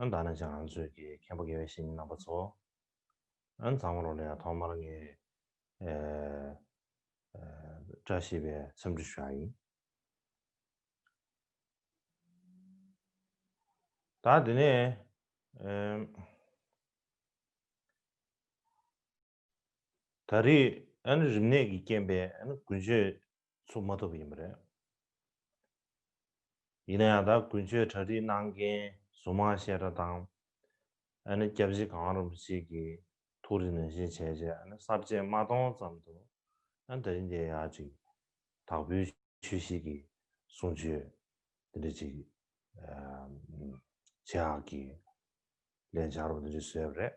ཨན་ད་ནི་ཅང་ང་ཚོས་ཀྱི་མཁན་པོ་དགེ་བའི་བཤེས་གཉེན་རྣམ་པ་ཚོ། ཨན་ཚང་མ་རོ་ལ་ཡང་ཐོག་མར་ངས་བཀྲ་ཤིས་པའི་འཚམས་འདྲི་ཞུ་ཡ་ཡིན། ད་དེ་ནས། ད་རེས་རིམས་ནད་ཀྱི་རྐྱེན་པས་དགུན་ཆོས་ཚུགས་མ་ཐུབ་པ་ཡིན་པ་རེད། ཡིན་ན་ཡང་ད་དགུན་ཆོས་གྲ་སྒྲིག་གནང་མཁན་ཟུར་མང་བཤད་གྲྭ་དང་སྐྱབས་རྗེ་གང་རུང་ཞིག་གིས་ཐུགས་རེ་ནན་བཞིན་བྱས་རྗེས་གསར་བརྗེ་མ་གཏོང་ཙམ་དུ་ད་རིང་འདི་ཡག་ཅིག་དྭགས་པོའི་ཆོས་ཤིག་གིས་གསུང་ཆོས་འདི་འདྲ་ཅིག་བྱེད་ཨག་གིས་ལས་འཆར་བ་འདི་འདྲ་བཟོས་པ་རེད།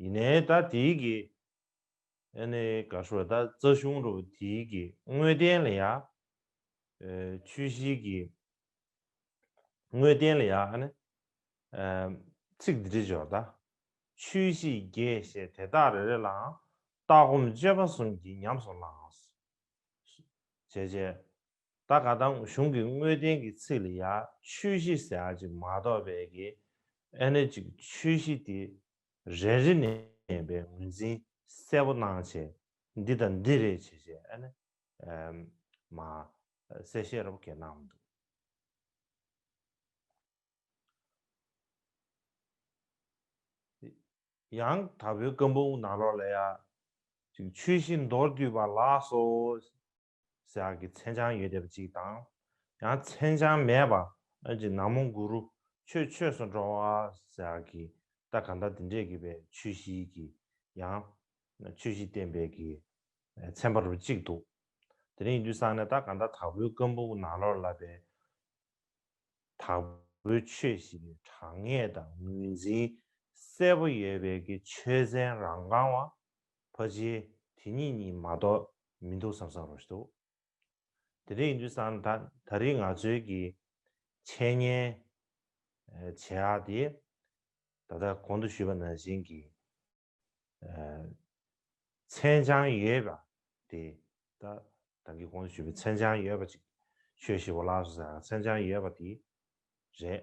ཡིན་ནའི་ད་དེའི་གི་ཨ་ནི་ག་ཧྲོལ་ད་རྩ་གཞུང་རུ་དེའི་གི་དངོས་བསྟན་ལ་ཡ་ཆོས་བཞིའི་གི་དངོས་བསྟན་ལ་ཡ་ཨ་ནི་ཚིག་འདི་འདྲི་འཇོག་ད། ཆོས་བཞིའི་རྒྱས་བཤད་དེ་དག་རེ་རེ་ལའང་ལྟ་སྒོམ་སྤྱོད་པ་གསུམ་གྱིས་ཉམས་སུ་བླངས། བྱས་རྗེས། ད་ག་དང་གཞུང་གི་དངོས་བསྟན་གྱི་ཚིག་ལ་ཡང་ཆོས་བཞི་ཟེར་ཨ་ཅིག་མ་གཏོགས་པའི་གི་ཨེ་ན་ཅིག་ཆོས་བཞི་དེ་རེ་རེ་ནས་པའི་ངོས་འཛིན་གསལ་པོ་གནང་བྱས་འདི་དང་འདི་རེད་བྱས་བྱས་ཨེ་ན་མ་གསལ་བཤད་རོབ་གས་གནང་འདུག། ཡང་དག་པའི་བཀའ་འབུམ་ནང་ལོགས་ལ་ཡང་ཅིག་ཆོས་བཞི་མདོར་བསྡུས་པ་ལགས་སོ། ཟེར་བ་གྱི་མཚན་བྱང་ཡོད་བསྡད་པ་ཅིག་དང། ཡང་མཚན་བྱང་མེད་པ་ཨོན་གྱི་ནག་མོ་གུ་རུ་ཆོས་ཆོས་སུ་འགྲོ་བ་ཟེར་བ་གྱི་ད་ག་ད་དེ་འདྲས་གྱི་པའི་ཆོས་བཞིའི་གྱི་ཡང་ཆོས་བཞི་བསྟན་པའི་གྱི་མཚན་པ་རུ་ཅིག་འདུག་དེ་རིང་ཡིན་དུས་སང་ནས་ད་ག་ད་དྭགས་པོའི་བཀའ་འབུམ་གྱི་ནང་ལོར་ལབ་པའི་དྭགས་པོའི་ཆོས་བཞི་གྱི་དྲང་ངེས་དང་ངོས་འཛིན་གསལ་པོ་ཡོད་པའི་གྱི་ཆོས་ཚན་རང་རྐང་བ་ཕ་གཞིས་དེ་གཉིས་གཉིས་མ་གཏོགས་མི་འདུག་བསམ་བསམ་རུང་ཞིག་འདུག་དེ་འདྲ་ཡིན་དུས་སང་ད་ད་རེས་ང་ཚོའི་གི་འཆད་ཉན་བྱེད་ཨ་དེ་ད་ལྟ་གོང་དུ་ཞུས་པ་ནང་བཞིན་གྱི་མཚན་བྱང་ཡོད་པ་དེ་ད་ད་གི་གོང་དུ་ཞུས་པའི་མཚན་བྱང་ཡོད་པ་ཅིག་ཆོས་ཞི་བ་ལགས་སུ་ཟེར་བ་མཚན་བྱང་ཡོད་པ་དེ་རེད་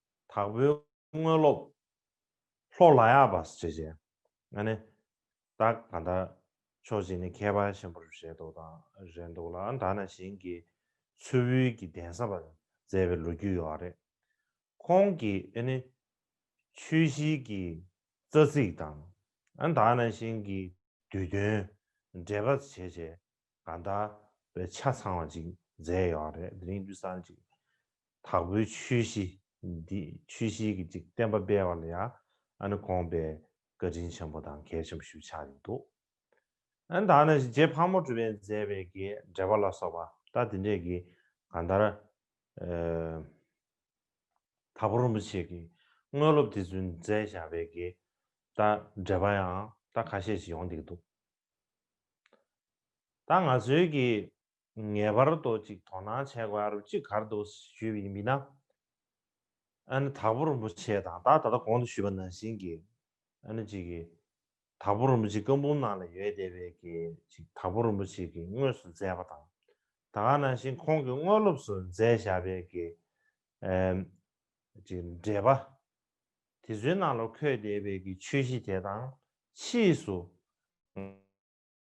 དྭགས་པོའི་དངོས་སློབ། ལྷོ་ལ་ཡག་པ་ཞེས་བྱ། ཨ་ནི། བདག་ག་ད། ཕྱོགས་གཅིག་ནི་མཁས་པ་ཆེན་པོར་རེ་དོགས་དང་རེ་འདུག་ལ་ད་ན་གཞན་གྱི་ཚུལ་དབུལ་གྱི་གདན་བསམ་པར་མཛད་པའི་ལོ་རྒྱུས་ཡོད་རེད། ཁོང་གིས་ཨ་ནི། ཆོས་གཞིའི་གི་རྩ་ཚིག་དང། ཨ་ད་ན་གཞན་གྱི་དུས་སྟོན། འགྲེལ་པ་བྱེད་བྱེད་ག་ད། པའི་ཆ་ཚང་བ་ཅིག་མཛད་ཡོད་རེད་དེ་རིང་དུས་སང་ཅིག། དྭགས་པོའི་ཆོས་གཞི་འདི་ཆོས་གཞིའི་གི་ཅིག་བསྟན་པ་སྤེལ་བ་ལ་ཡང་ཨ་ནི་དགོངས་པའི་བཀའ་དྲིན་ཆེན་པོ་དང་གལ་ཆེན་པོ་ཞུ་ཆགས་ཡིན་འདུག་ཨ་ནི་ད་ནི་རྗེ་ཕག་མོ་གྲུ་པས་མཛད་པའི་གི་འགྲེལ་པ་ལ་སོགས་པ་ད་དེ་འདྲས་གི་གང་ལྟར་དྭགས་པོ་རིན་པོ་ཆེ་གི་དངོས་སློབ་དེ་ཚུན་མཛད་བཞག་པའི་གི་ད་འགྲེལ་པ་ཡང་ད་ཁ་ཤས་ཤིག་ཡོང་བསྡད་ཀྱི་འདུག་ད་ང་ཚོའི་གི་ངེས་པར་དུ་ཅིག་དོ་སྣང་བྱས་དགོས་ཨ་རུ་ཅིག་གར་འདུག་ཞུས་པའི་མི་སྣ་ཨ་ནི་དྭགས་པོ་རིན་པོ་ཆེ་དང་ད་ད་ལྟ་གོང་དུ་ཞུས་པ་ནང་བཞིན་གྱི་ཨ་ནི་ཅིག་གིས་དྭགས་པོ་རིན་པོ་ཆེ་བཀའ་འབུམ་ནང་ལ་ཡོད་བསྡད་པའི་གི་ཅིག་དྭགས་པོ་རིན་པོ་ཆེ་གིས་དངོས་སུ་མཛད་པ་དང་ད་ག་ནང་བཞིན་ཁོང་གིས་དངོས་སློབ་སུ་མཛད་བཞག་པའི་གི་ཅིག་འགྲེལ་པ་དེ་ཚོའི་ནང་ལ་འཁོད་བསྡད་པའི་གི་ཆོས་གཞི་དེ་དང་ཕྱིས་སུ།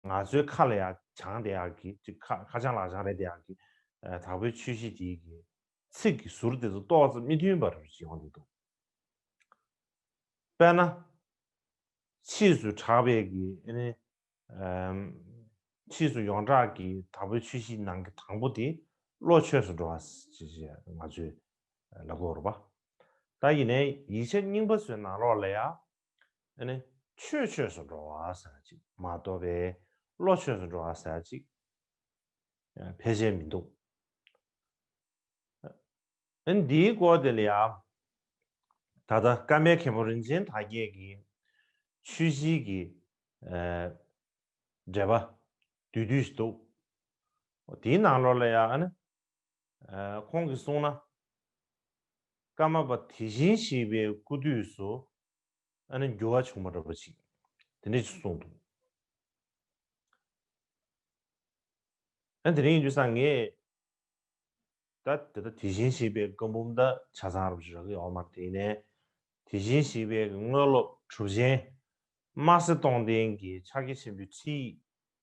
ང་ཚོའི་ཁ་ལ་ཡང་བྱང་དེ་ཡག་གི་ཅིག་ཁ་ཁ་བྱང་ལག་བྱང་རེད་དེ་ཡག་གི། དྭགས་པོའི་ཆོས་གཞི་དེའི་གི། ཚིག་གི་ཟུར་དེ་ཚོ་ཏོག་ཙམ་མི་མཐུན་པ་རེད་ཅིག་ཡོང་གི་འདུག། དཔེར་ན། ཕྱིས་སུ་གྲགས་པའི་གི་ཨེ་ནི། ཕྱིས་སུ་ཡོངས་གྲགས་གི་དྭགས་པོའི་ཆོས་གཞི་ནང་གི་དང་པོ་དེ་བློ་ཆོས་སུ་འགྲོ་བ་ཞེས་ང་ཚོས་ལབ་དགོས་རོགས་པ། ད་ཡིན་ནའི་ཡིག་ཆ་རྙིང་པ་ཚོའི་ནང་ལོགས་ལ་ཡང་ནི། ཆོས་ཆོས་སུ་འགྲོ་བ་ཟེར་ཅིག་མ་དོ་པས་བློ་ཆོས་སུ་འགྲོ་བ་ཟེར་ཅིག་ཕལ་ཆེར་མི་འདུག། ནི་འདིའི་སྐོར་དེ་ལ་ཡང། ད་ལྟ་བཀའ་མའི་མཁན་པོ་རིན་ཆེན་དར་རྒྱས་ཀྱིས་ཆོས་བཞིའི་གི་འགྲེལ་པ་བསྡུས་དུས་ཤིག་འདུག། དེའི་ནང་ལོགས་ལ་ཡང། ཁོང་གིས་གསུངས་ན། ཀརྨ་པ་དེ་བཞིན་གཤེགས་པའི་སྐུ་དུས་སུ་ཨ་ནི་འགྱུར་བ་བྱུང་མ་འགྲོ་པ་ཅིག་དེ་འདྲས་ཅིག་གསུངས་འདུག། ཡང་དེ་རིང་ཡིན་དུས་སང་ངས་ད་དེ་ལྟར་དེ་བཞིན་གཤེགས་པའི་བཀའ་འབུམ་ད་ཆ་ཚང་རབ་ཅིག་རག་གི་ཡོད་མ་རེད་ནས་དེ་བཞིན་གཤེགས་པའི་དངོས་སློབ་གྲུབ་ཆེན་དམར་སེར་སྟོང་ལྡན་གྱི་ཕྱག་རྒྱ་ཆེན་པོའི་ཁྲིད་ཡིག་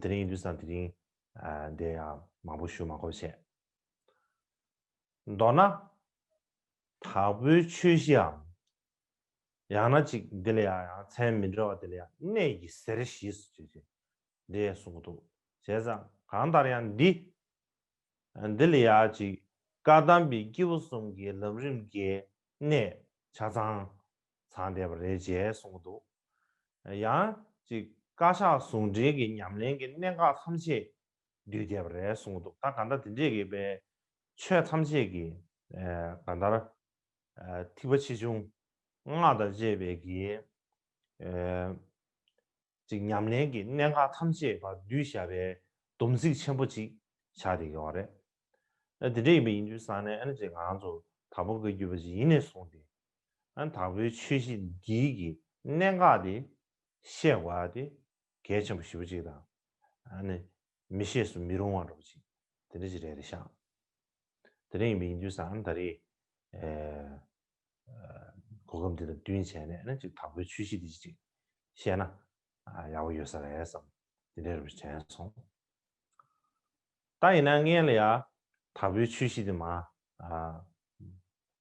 དེ་རིང་དུས་སང་དེ་རིང་འདི་ཡང་མང་པོ་ཞུ་མ་གོ་བྱས། མདོར་ན། དྭགས་པོའི་ཆོས་གཞིའམ། ཡང་ན་ཅིག་འདི་ལ་ཡང་ཡང་མཚན་མི་འདྲ་བ་དེ་ལ་ཡང་གནས་ཀྱི་གཟེར་ཞེས་སུ་བརྗོད་ཅིང་འདི་ཡང་གསུངས་འདུག་བྱས་ཙང་གང་ལྟར་ཡང་འདི། འདི་ལ་ཡང་ཅིག་བཀའ་གདམས་པའི་སྐྱེས་བུ་གསུམ་གའི་ལམ་རིམ་བརྒྱའི་གནས་ཆ་ཚང་ཚང་བསྡད་པ་རེད་ཅེས་གསུངས་འདུག་ཡང་ཅིག་བཀའ་ཤག་ཟུང་འབྲེལ་གྱི་ཉམས་ལེན་གྱི་གནད་འགག་ཐམས་ཅད་བསྡུས་བསྡད་པ་རེད་གསུངས་འདུག་ད་ག་འདྲ་དེ་འདྲས་ཀྱི་པའི་ཆོས་ཐམས་ཅད་ཀྱི་ག་འདར་ཐིགས་པ་ཆེ་ཆུང་སྔགས་དང་བཅས་པའི་གྱི་ཅིག་ཉམས་ལེན་གྱི་གནད་འགག་ཐམས་ཅད་བ་བསྡུས་བཞག་པའི་སྡོམ་ཚིག་ཆེན་པོ་ཅིག་ཆགས་བསྡད་ཀྱི་བ་རེད། དེ་འདྲས་ཡིན་པ་ཡིན་དུས་སང་ནས་ཨ་ནི་ཅིག་ང་ཚོ་ད་བོ་དགའ་རྒྱུ་བ་ཅིག་ཡིན་ནས་བཟུང་སྟེ་དང་པོའི་ཆོས་བཞི་འདི་ཀྱི་གནད་འགག་དེ་བཤད་བ་དེ་གལ་ཆེན་པོ་བཞི་པོ་གཅིག་དང། ནི། མི་ཤེས་སུ་མི་རུང་བ་འགྲོ་བ་གཅིག་དེ་འདྲ་ཅིག་རེད་རེད་ཤག། དེ་འདྲ་ཡིན་པའི་ཡིན་དུས་སུ་ད་རེས། གོ་སྐབས་འདི་དང་བསྟུན་བྱས་ནས་ནི་ཅིག་དང་པོའི་ཆོས་བཞི་འདི་ཅིག་བཤད་ན་ཡག་པོ་ཡོད་ས་རེད་བསམ་དེ་འདྲའི་རེ་བ་དྲན་སོང། ད་ཡིན་ན་ངས་ལ་ཡང་དང་པོའི་ཆོས་བཞི་འདི་མ།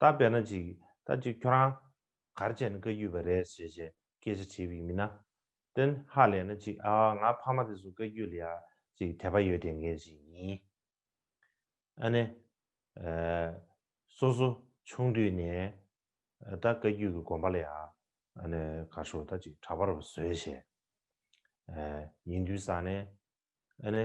ད་བལྟ་ན་ཅིག་ད་ཅིག་ཁྱོད་རང། གར་བྱས་ན་བཀའ་རྒྱུད་པ་རེད་ཟེར་བྱས་སྐད་ཆ་བྱེད་པའི་མི་ན། ཏན་ཧ་ལས་ན་ཅིག་ཨ་ང་ཕ་མ་དེ་ཚོ་བཀའ་རྒྱུད་ལ་ཡ་ཅིག་དད་པ་ཡོད་དད་མཁན་ཞིག་ཡིན། ཨ་ནི། སོ་སོ་ཆུང་དུས་ནས། ད་བཀའ་རྒྱུད་ཀྱི་དགོན་པ་ལ་ཡ། ཨ་ནི་གར་ཤོག་ད་ཅིག་གྲྭ་པར་བཟོས་བྱས། ཡིན་དུས་ས་ནས། ཨ་ནི།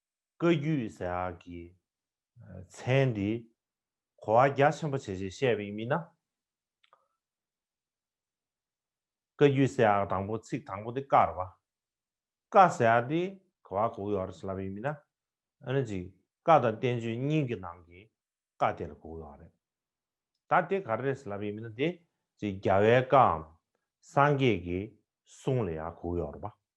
བཀའ་བརྒྱུད་ཟེར་ཡག་གི་མཚན་འདི་གོ་བ་རྒྱ་ཆེན་པོ་བྱེད་ཅེས་བཤད་པའི་མི་སྣ། བཀའ་བརྒྱུད་ཟེར་ཡག་དང་པོ་ཚིག་དང་པོ་འདི་ཀར་བ། བཀའ་ཟེར་ཡག་འདི་གོ་བ་གོ་གི་ཡོད་རེད་ཅེས་ལབ་པའི་མི་སྣ། ཨ་ནི་ཅིག་བཀའ་དང་བསྟན་བཅོས་གཉིས་ཀྱི་ནང་གི་བཀའ་དེར་གོ་གི་ཡོད་རེད། ད་དེ་ག་རེ་རེད་ཅེས་ལབ་པའི་མི་སྣ་དེ་ཅིག་རྒྱལ་བའི་བཀའ་འམ་སངས་རྒྱས་ཀྱི་གསུང་ལ་ཡང་གོ་གི་ཡོད་རེད་པ།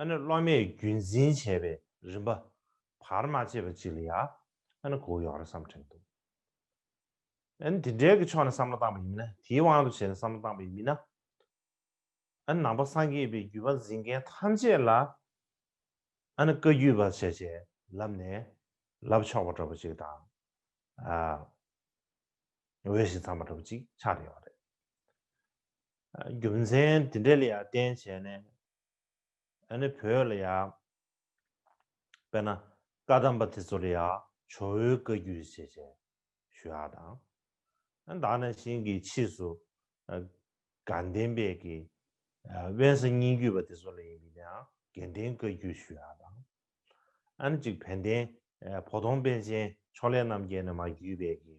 ཨ་ནི་སློབ་མས་རྒྱུན་འཛིན་བྱས་པའི་རིམ་པ། བར་མ་ཆད་པ་ཅིག་ལ་ཡང་ཨ་ནི་གོ་ཡོང་རེ་བསམ་དྲན་འདུག། ཨ་ནི་དེ་འབྲེལ་གྱི་ཕྱོགས་ནས་བསམ་བློ་བཏང་པ་ཡིན་མིན། དེའི་དབང་དུ་བྱས་ནས་བསམ་བློ་བཏང་པ་ཡིན་མིན་ན། ཨ་ནི་ནང་པ་སངས་རྒྱས་པའི་བརྒྱུད་པ་འཛིན་མཁན་ཐམས་ཅད་ལ་ཨ་ནི་བཀའ་བརྒྱུད་པ་བྱས་བྱས་ལབ་ནས་ལབ་ཆོག་པ་འདྲ་པོ་ཅིག་དང། འོས་ཤིང་འཚམས་པ་འདྲ་པོ་ཅིག་ཆགས་ཡོང་བ་རེད། རྒྱུ་མཚན་དེ་འདྲ་ལ་ཡང་བརྟེན་བྱས་ནས་ཨ་ནི་བོད་ལ་ཡང་དཔེར་ན་བཀའ་གདམས་པ་དེ་ཚོ་ལ་ཡང་ཇོ་བོའི་བཀའ་རྒྱུད་ཞེས་བྱས་ཞུ་ཡག་དང། དག་ན་ཤིང་གི་ཕྱིས་སུ་དགའ་ལྡན་དཔལ་གྱི་དབེན་ས་སྙིང་རྒྱུད་པ་དེ་ཚོ་ལ་ཡིན་པའི་ཡང་དགེ་ལྡན་བཀའ་རྒྱུད་ཞུ་ཡག་དང། ཨ་ནི་གཅིག་བན་དེ་བོ་དོང་པན་ཆེན་ཕྱོགས་ལས་རྣམ་རྒྱལ་ནས་མ་རྒྱུད་པའི་གི་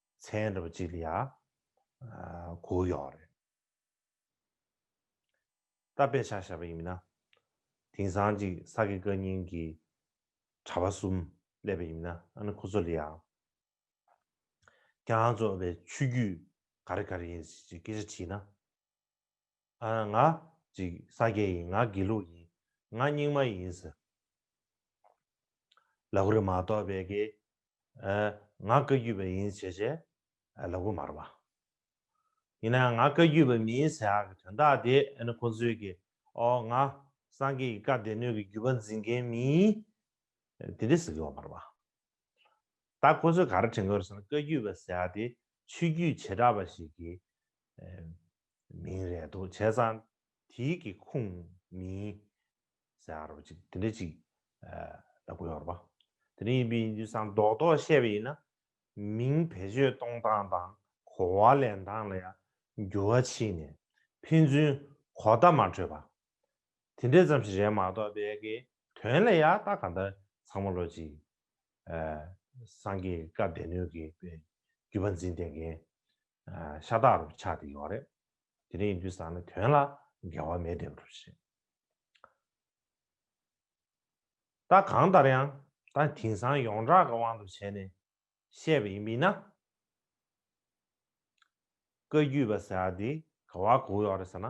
མཚན་རབས་གཅིག་ལ་ཡང་གོ་ཡོད་རེད། ད་དཔེ་ཆ་བཤད་པ་ཡིན་མིན་ན། དེང་སང་ཅིག་ས་དགེ་བཀའ་རྙིང་གི་གྲྭ་པ་གསུམ་སླེབས་པ་ཡིན་མིན་ན་ཨ་ནི་ཁོ་ཚོ་ལ་ཡང། རྒྱ་ཚོ་བའི་ཆོས་རྒྱུད་ག་རེ་ག་རེ་ཡིན་ཞེས་སྐད་ཆ་དྲིས་ན། ང་ཅིག་ས་སྐྱེ་ཡིན་ང་དགེ་ལུགས་ཡིན་ང་རྙིང་མ་ཡིན་ཟེར། ལ་གུ་རི་མ་གཏོགས་པའི་དགེ། ང་བཀའ་བརྒྱུད་པ་ཡིན་བྱས་བྱས། ལ་གུ་མ་རུ་མ། ཡིན་ན་ང་བཀའ་བརྒྱུད་པ་མིན་ཟེར་ཡག་གི་དོན་དག་དེ་ཨེ་ན་ཁོང་ཚོའི་དགེ། ཨོ་ང་སངས་རྒྱས་ཀྱི་བཀའ་སྡེ་སྣོད་ཀྱི་བརྒྱུད་པ་འཛིན་མཁན་མིན། དེ་འདྲས་ཟེར་གི་ཡོད་མ་རུ་མ། ད་ཁོང་ཚོས་ག་རེ་དྲན་གི་ཡོད་རེད་ཟེར་ན་བཀའ་བརྒྱུད་པ་ཟེར་ཡག་དེ་ཆོས་བརྒྱུད་བྱེ་བྲག་པ་ཞིག་གིས། མིང་རེད་འདུག་བྱས་ཙང་དེའི་གི་ཁུངས་མིན་ཟེར་ཡག་རོ་ཅིག་དེ་འདྲ་ཅིག་ལ་གོ་ཡོག་རོ་པ་དེ་འདྲ་ཡིན་པའི་ཡིན་དུས་ཙང་རྡོག་རྡོག་བཤད་པ་ཡིན་ན་མིང་བེད་སྤྱོད་གཏོང་སྟངས་དང་གོ་བ་ལེན་སྟངས་ལ་ཡང་འགྱུར་བ་ཕྱིན་ནས་ཕན་ཚུན་གོ་བརྡ་མ་འཕྲོད་པ་དེ་འདྲ་ཙམ་ཞིག་རེད་མ་གཏོགས་དེ་གི་དོན་ལ་ཡག་རྟགས་གང་འདྲ་ཚང་མ་ལོ་ཅིག་སངས་རྒྱས་བཀའ་སྡེ་སྣོད་ཀྱི་བརྒྱུད་པ་འཛིན་བསྟེན་མཁན་ཤ་སྟག་རུ་ཆགས་ཏེ་ཡོད་རེད། དེ་འདྲ་ཡིན་དུས་བཟང་ན་དོན་ལ་འགལ་བ་མེད་བསྡད་འགྲོ་ཞེས། ད་གང་ལྟར་ཡང་ད་དེང་སང་ཡོངས་གྲགས་ཀྱི་དབང་དུ་བྱས་ནས་བཤད་པ་ཡིན་མིན་ན། བཀའ་རྒྱུད་པ་ཟེར་བ་དེ་ག་བར་གོ་ཡོད་རེད་ཟེར་ན།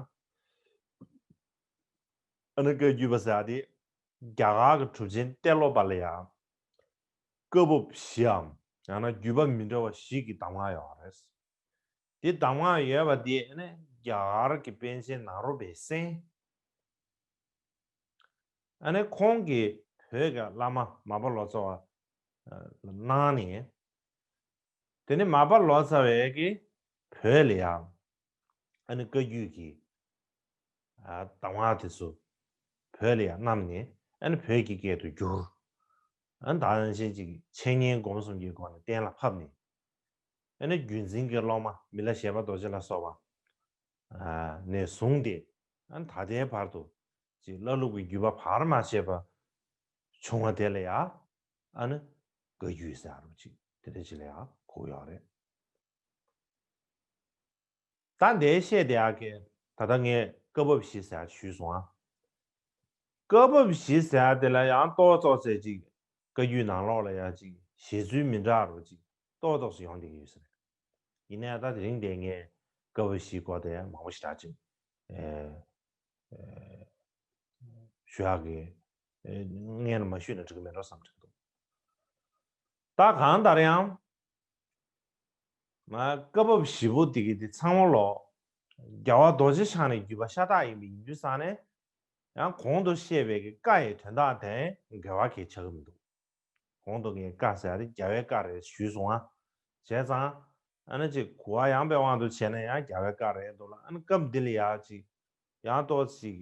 ཨ་ནི་བཀའ་རྒྱུད་པ་ཟེར་བ་དེ་རྒྱ་གར་གྱི་གྲུབ་ཆེན་གཏེར་སློབ་པ་ལ་ཡང་བཀའ་བབས་བཞིའམ་ཡང་ན་བརྒྱུད་པ་མི་འདྲ་བ་ཞིག་གི་གདམས་ངག་ཡོད་པ་རེད། དེ་གདམས་ངག་ཡོད་པ་དེ་ནི་རྒྱ་གར་གྱི་པཎ་ཆེན་ནཱ་རོ་པའི་གསན། ཁོང་གིས་བོད་ཀྱི་བླ་མ་མ་པ་ལོ་ཙཱ་བ་ལ་གནང་ནས། དེ་ནས་མ་པ་ལོ་ཙཱ་བས་ཀྱིས་བོད་ལ་ཡང་ཨ་ནི་བཀའ་བརྒྱུད་ཀྱི་གདམས་ངག་དེ་ཚོ་བོད་ལ་ཡང་བསྣམས་ནས་ཨ་ནི་བོད་ཀྱི་སྐད་དུ་བསྒྱུར། ཨ་ནི་དག་ཡངས་ཅན་གྱི་འཆད་ཉན་སྒོམ་གསུམ་གྱི་སྒོ་ནས་གཏན་ལ་ཕབ་ནས། ཨ་ནི་བརྒྱུད་འཛིན་གྱི་སློབ་མ་མི་ལ་ཞེས་པ་རྡོ་རྗེ་ལ་སོགས་པ་ནས་བཟུང་སྟེ་ཨ་ནི་ད་ལྟའི་བར་དུ་ཅིག་བླ་ལུགས་ཀྱི་བརྒྱུད་པ་བར་མ་ཆད་པ་བྱུང་བ་དེ་ལ་ཡང་ཨ་ནི་བཀའ་བརྒྱུད་ཟེར་རོ་ཅིག་དེ་འདྲ་ཅིག་ལ་ཡང་གོ་ཡོད་རེད། ད་འདས་བཤད་དེ་ཨ་ཁེ། ད་ལྟ་ངས་སྐབས་བབ་བཞི་ཟེར་བ་ཞུས་སོང་ཨ། སྐབས་བབ་བཞི་ཟེར་བ་དེ་ལ་ཡང་རྟོག་བཙོག་ཟེར་ཅིག་བཀའ་རྒྱུད་ནང་ལོགས་ལ་ཡང་ཅིག་བཞེད་ཚུལ་མི་འདྲ་རོ་ཅིག་རྟོག་བཙོག་སུ་ཡོང་དེ་ཡོད་ས་རེད། ཡིན་ནའི་ད་དེ་རིང་འདས་ངས་སྐབས་བབ་བཞིའི་སྐོར་དེ་མང་པོ་ཞིག་གྲགས་ཅིག་ཞུས་ཨ་ཁེ། ངས་ནི་མ་ཞུས་ན་འགྲིག་གི་མེད་འགྲོ་བསམ་གྱི་འདུག་ད་གང་ལྟར་ཡང། བཀའ་བབས་བཞི་པོ་དེ་གི་དེ་ཚང་མ་ལོག། རྒྱལ་བ་རྡོ་རྗེ་འཆང་ནི་བརྒྱུད་པ་ཤ་སྟག་ཡིན་པའི་ཡིན་རྒྱུ་བསགས་ནས། ཡང་གོང་དུ་བཤད་པའི་གི་བཀའ་ཡི་དོན་དག་དེ་འགལ་བ་གས་ཆགས་ཀི་མི་འདུག། གོང་དུ་གི་བཀའ་ཟེར་བ་དེ་རྒྱལ་བའི་བཀའ་རེད་ཞུས་སོང་ཨ། བྱས་ཙང། ཨ་ནི་ཅིག་གུ་བ་ཡངས་པའི་དབང་དུ་བྱས་ནས་ཡང་རྒྱལ་བའི་བཀའ་རེད་འདུག་ལ་ཨ་ནི་སྐབས་འདི་ལ་ཡང་ཅིག། ཡང་ཏོག་ཅིག།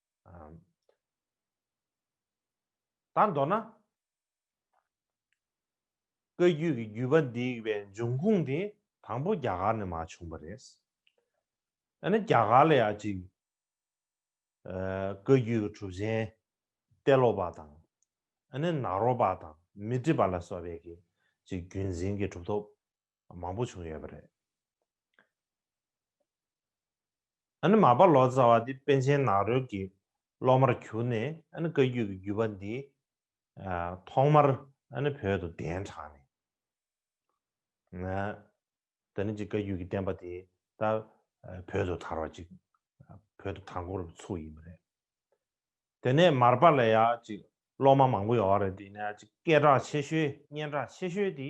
ད་མདོར་ན། བཀའ་རྒྱུད་ཀྱི་བརྒྱུད་པ་འདིའི་བའི་འབྱུང་ཁུངས་དེ་དང་པོ་རྒྱ་གར་ནས་མ་བྱུང་བ་རེད། ཡང་ན་རྒྱ་གར་ལ་ཡང་ཅིག། བཀའ་རྒྱུད་ཀྱི་གྲུབ་ཆེན་ཏེ་ལོ་པ་དང། ནཱ་རོ་པ་དང་མི་ཏྲི་པ་ལ་སོགས་པས་ཀྱིས་ཅིག་བརྒྱུད་འཛིན་གྱི་གྲུབ་ཐོབ། མང་པོ་བྱུང་ཡོད་པ་རེད། ཨ་ནི་མ་པ་ལོ་ཙཱ་བ་འདི་པཎ་ཆེན་ནགས་རོལ་གྱི་སློབ་མར་གྱུར་ནས་ཨ་ནི་བཀའ་རྒྱུད་ཀྱི་བརྒྱུད་པ་འདི་ཐོག་མར་ཨ་ནི་བོད་དུ་གདན་དྲངས་ནས། ད་ནི་ཅིག་བཀའ་རྒྱུད་ཀྱི་བསྟན་པ་དེ་ད་བོད་དུ་དར་བ་ཅིག་བོད་དུ་དར་འགོར་ཚུགས་ཡིན་པ་རེད། དེ་ནས་མར་པ་ལ་ཡང་ཅིག་སློབ་མ་མང་པོ་ཡོང་བ་རེད་དེ་ནས་ཅིག་སྐད་གྲགས་ཆེ་ཤོས་སྙན་གྲགས་ཆེ་ཤོས་དེ་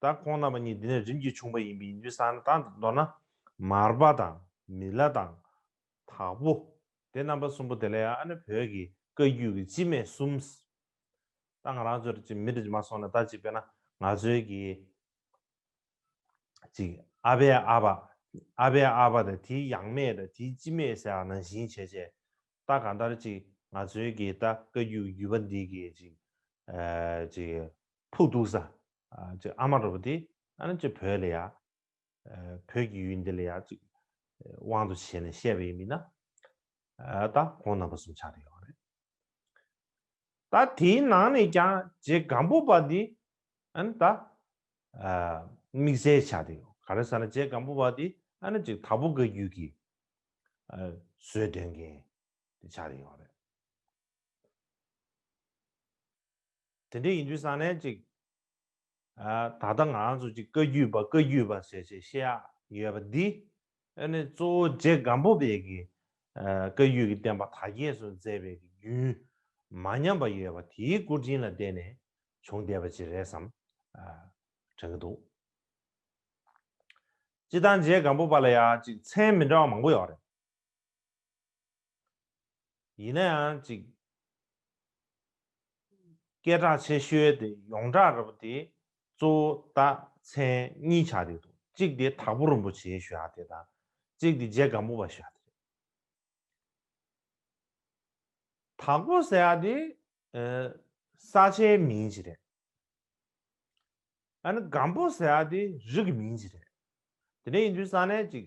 ད་ཁོང་རྣམ་པ་གཉིས་འདི་ནས་རིམ་གྱིས་བྱུང་བ་ཡིན་པས་ཡིན་དུས་ས་ན་དང་དུ་མདོར་ན། མར་པ་དང། མི་ལ་དང། དྭགས་པོ། དེ་རྣམ་པ་གསུམ་པོ་དེ་ལ་ཡང་ཨ་ནི་བོད་ཀྱི་བཀའ་རྒྱུད་ཀྱི་སྤྱི་སྨད་གསུམ། ད་ང་རང་ཚོར་ཅིག་མི་དེ་མ་སོང་ན་ད་ཅིག་དཔེར་ན་ང་ཚོའི་གི། ཅིག་ཨ་ཕའི་ཨ་ཕ། ཨ་ཕའི་ཨ་ཕ་དང་དེའི་ཡང་མེས་དང་དེའི་སྤྱི་མེས་ཟེར་ཡང་ནང་བཞིན་བྱས་བྱས། ད་གང་ལྟར་ཅིག་ང་ཚོའི་གི་ད་བཀའ་རྒྱུད་ཀྱི་རྒྱུད་པ་འདི་གི་ཅིག། ཅིག། ཕུག་གདུག་ས། ཅིག་ཨ་མ་རོ་པ་ཏི། ཨ་ནི་ཅིག་བོད་ལ་ཡ། བོད་ཀྱི་ཡུལ་འདི་ལ་ཡ། ཅིག་དབང་དུ་བྱས་ནས་བཤད་པ་ཡིན་མིན་ན། ད་གོང་ནང་པ་གསུམ་ཆགས་ཏེ་ཡོད་པ་རེད། ད་དེའི་ནང་ནས་ཀྱང་རྗེ་སྒམ་པོ་པ་འདི། ཨ་ནི་ད། དམིགས་བསལ་ཆགས་ཏེ་ཡོད། ག་རེ་ཟ་ན་རྗེ་སྒམ་པོ་པ་འདི་ཨ་ནི་ཅིག་དྭགས་པོ་འགའི་རྒྱུད་ཀྱི། བཟོད་དོན་མཁན། ཆགས་ཏེ་ཡོད་པ་རེད། དེ་འདྲ་ཡིན་དུས་ས་གནས་ཅིག་ད་ལྟ་ང་རང་ཚོ་ཅིག་བཀའ་རྒྱུད་པ་བཀའ་རྒྱུད་པ་ཟེར་ཞེས་བཤད་ཡ་ཡོད་པ་འདི་ཨ་ནི་གཙོ་བོ་རྗེ་སྒམ་པོ་དཔལ་གྱིས་བཀའ་རྒྱུད་ཀྱི་བསྟན་པ་དར་རྒྱས་སུ་མཛད་པའི་རྒྱུན་མ་ཉམས་པ་ཡོད་པ་དེའི་སྐུ་དྲིན་ལ་བརྟེན་ནས་བྱུང་བསྡད་པ་ཅིག་རེད་བསམ་དྲན་གྱི་འདུག་སྤྱི་བཏང་རྗེ་སྒམ་པོ་པ་ལ་ཡང་ཅིག་མཚན་མི་འདྲ་བ་མང་པོ་ཡོད་རེད། ཡིན་ན་ཡང་ཅིག། སྐད་གྲགས་ཆེ་ཤོས་དེ་ཡོངས་གྲགས་རབ་དེ་གཙོ་བོ་རྟགས་མཚན་གཉིས་ཆགས་བསྡད་འདུག་གཅིག་དེ་དྭགས་པོ་རིན་པོ་ཆེའི་ཞོལ་ཨ་དེ་དང། གཅིག་དེ་རྗེ་སྒམ་པོ་པ་ཞོལ་ཨ་དེ་རེད། དྭགས་པོ་ཟེར་ཨ་དེ་ས་ཆའི་མིང་ཅིག་རེད། ཨ་ནི་སྒམ་པོ་ཟེར་ཨ་དེ་རིགས་ཀྱི་མིང་ཅིག་རེད། དེ་འདྲ་ཡིན་དུས་ས་གནས་ཅིག།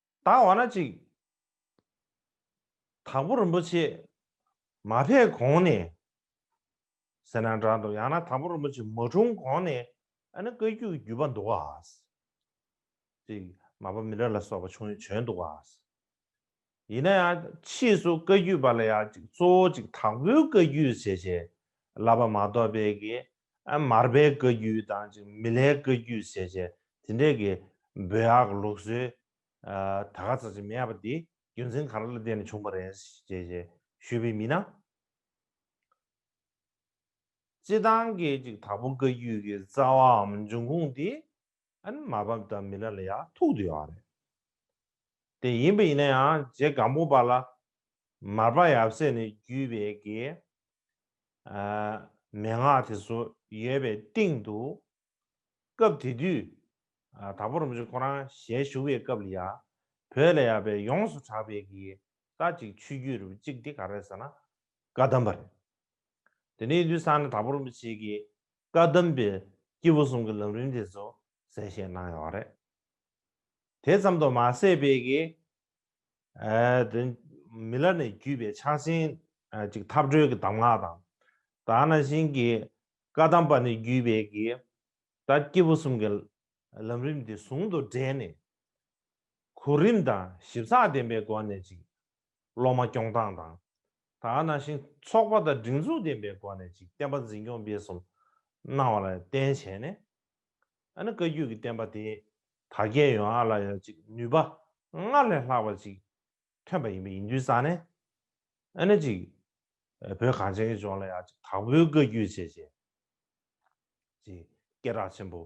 བདག་འོ་ན་ཅིག། དང་པོ་རིན་པོ་ཆེ་མ་ཕེབས་གོང་ནས། ཟེར་ན་འདྲ་འདུག་ཡང་ན་དང་པོ་རིན་པོ་ཆེ་མ་འཁྲུངས་གོང་ནས་ཨ་ནི་བཀའ་རྒྱུད་ཀྱི་བརྒྱུད་པ་འདུག་ག། ཅིག། མ་པ་མི་ཏྲ་ལ་སོགས་པ་བྱུང་ཡོད་བྱོན་འདུག་ག། ཡིན་ན་ཡང་ཕྱིས་སུ་བཀའ་རྒྱུད་པ་ལ་ཡང་ཅིག་གཙོ་བོ་ཅིག་དང་པོའི་བཀའ་རྒྱུད་ཟེར་བྱའི་བསླབ་པ་མ་གཏོགས་པའི་གི་མར་པའི་བཀའ་རྒྱུད་དང་གཅིག་མི་ལའི་བཀའ་རྒྱུད་ཟེར་བྱས་དེ་འདྲས་ཀྱི་འབོད་ཨག་ལུགས་སྲོལ་ད་ག་ཚ་ཚ་མེད་པ་འདི་རྒྱུ་མཚན་ག་ར་ལ་བརྟེན་ནས་བྱུང་བ་རེད་ཅེས་ཞེས་ཞུས་པའི་མི་སྣ་སྤྱི་བཏང་གིས་གཅིག་དྭགས་པོ་བཀའ་རྒྱུད་ཀྱི་རྩ་བའམ་འབྱུང་ཁུངས་དེ་ཨན་མ་བབས་ད་མི་ལ་ལ་ཡག་ཐུག་ཏུ་ཡོག་རེད་དེ་ཡིན་པ་ཡིན་ན་ཡང་རྗེ་གང་པོ་པ་ལ་མར་པ་ཡབ་སྲས་ནས་བརྒྱུད་པའི་དགེ་མེད་ངག་དེ་ཚོ་ཡོད་པའི་སྟེང་དུ་སྐབས་དེ་དུས་དྭགས་པོ་རོམ་བཞི་ཁོ་རང་ཞལ་བཞུགས་པའི་སྐབས་ལ་ཡ་བོད་ལ་ཡག་པའི་ཡོངས་སུ་གྲགས་པའི་དགེ་རྟ་གཅིག་ཆུ་རྒྱུད་རུ་གཅིག་དེ་ག་རེད་ཟེར་ན་བཀའ་གདམས་པ་རེད་དེ་ནས་དུས་སང་ནས་དྭགས་པོ་རོམ་བཞི་ཀྱི་བཀའ་གདམས་པའི་སྐྱེས་བུ་གསུམ་གྱི་ལམ་རིམ་དེ་ཚོ་གསལ་བཤད་གནང་ཡོད་པ་རེད། དེ་ཙམ་དུ་མ་ཟད་པའི་གི། མི་ལ་ནས་བརྒྱུད་པའི་ཕྱག་ཆེན་གཅིག་འཐབ་གྲོལ་གྱི་གདམས་ངག་དང། ད་ནང་བཞིན་གྱི་བཀའ་གདམས་པ་ནས་བརྒྱུད་པའི་གི། ད་སྐྱེས་བུ་གསུམ་གྱི་ལམ་རིམ་དེ་ཟུང་དུ་སྦྲེལ་ནས། གོ་རིམ་དང་ཞིབ་ཚགས་ལྡན་པའི་སྒོ་ནས་ཅིག་སློབ་མ་སྐྱོང་སྟངས་དང། ད་ནང་བཞིན་ཚོགས་པ་དང་སྒྲིག་འཛུགས་ལྡན་པའི་སྒོ་ནས་ཅིག་བསྟན་པ་འཛིན་སྐྱོང་སྤེལ་གསུམ་གནང་བ་ལ་བརྟེན་བྱས་ནས། ཨ་ནི་བཀའ་བརྒྱུད་ཀྱི་བསྟན་པ་དེ་དར་རྒྱས་ཡོང་བ་ལ་ཡང་ཅིག་ནུས་པ་སྔར་ལས་ལྷག་པ་ཅིག་ཐོན་པ་ཡིན་པ་ཡིན་དུས་རྩ་ནས། ཨ་ནི་ཅིག་བོད་གངས་ཅན་གྱི་ལྗོངས་ལ་ཡང་ཅིག་དྭགས་པོའི་བཀའ་བརྒྱུད་ཅེས་བྱས། ཅིག་སྐད་གྲགས་ཆེན་པོ།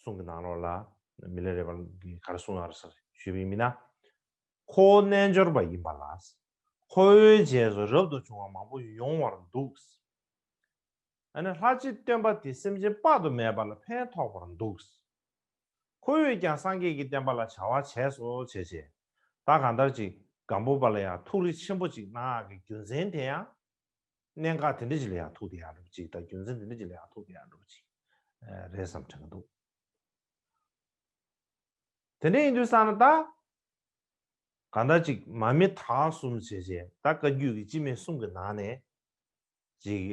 གསུང་གི་ནང་ལོགས་ལ། མི་ལས་རེ་བར་གྱི་གར་སོང་ཨར་སར་བཞུད་པའི་མི་སྣ། ཁོ་བོ་རྣལ་འབྱོར་པ་ཡིན་པ་ལ། ཁོ་བོའི་རྗེས་སུ་རབ་ཏུ་བྱུང་བ་མང་པོ་ཡོང་བར་འདུག། ཨ་ནི་ལྷ་གཅིག་སྟོན་པ་དེ་སེམས་ཅན་དཔག་ཏུ་མེད་པ་ལ་ཕན་ཐོགས་པར་འདུག། ཁོ་བོས་ཀྱང་སངས་རྒྱས་ཀྱི་བསྟན་པ་ལ་བྱ་བ་བྱས་སོ་བྱས་བྱས། ད་གང་ལྟར་ཅིག་སྒམ་པོ་པ་ལ་ཡང་ཐུགས་རེ་ཆེན་པོ་ཅིག་གནང་ཨ་གི་རྒྱུ་མཚན་དེ་ཡང། གནད་འགག་དེ་འདྲ་ཅིག་ལ་ཡང་ཐུག་དེ་ཡག་འགྲུབ་ཅིག་དང་རྒྱུ་མཚན་དེ་འདྲ་ཅིག་ལ་ཡང་ཐུག་དེ་ཡག་འགྲུབ་ཅིག་རེད་བསམ་དྲན་གྱི་འདུག། དེ་འདྲ་ཡིན་དུས་བསམ་ན་ད། གང་འདྲ་ཅིག་མ་མི་དྭགས་གསུམ་བྱས་རྗེས་ད་བཀའ་བརྒྱུད་ཀྱི་སྤྱི་མེས་གསུམ་གྱི་ནང་ནས། ཅིག།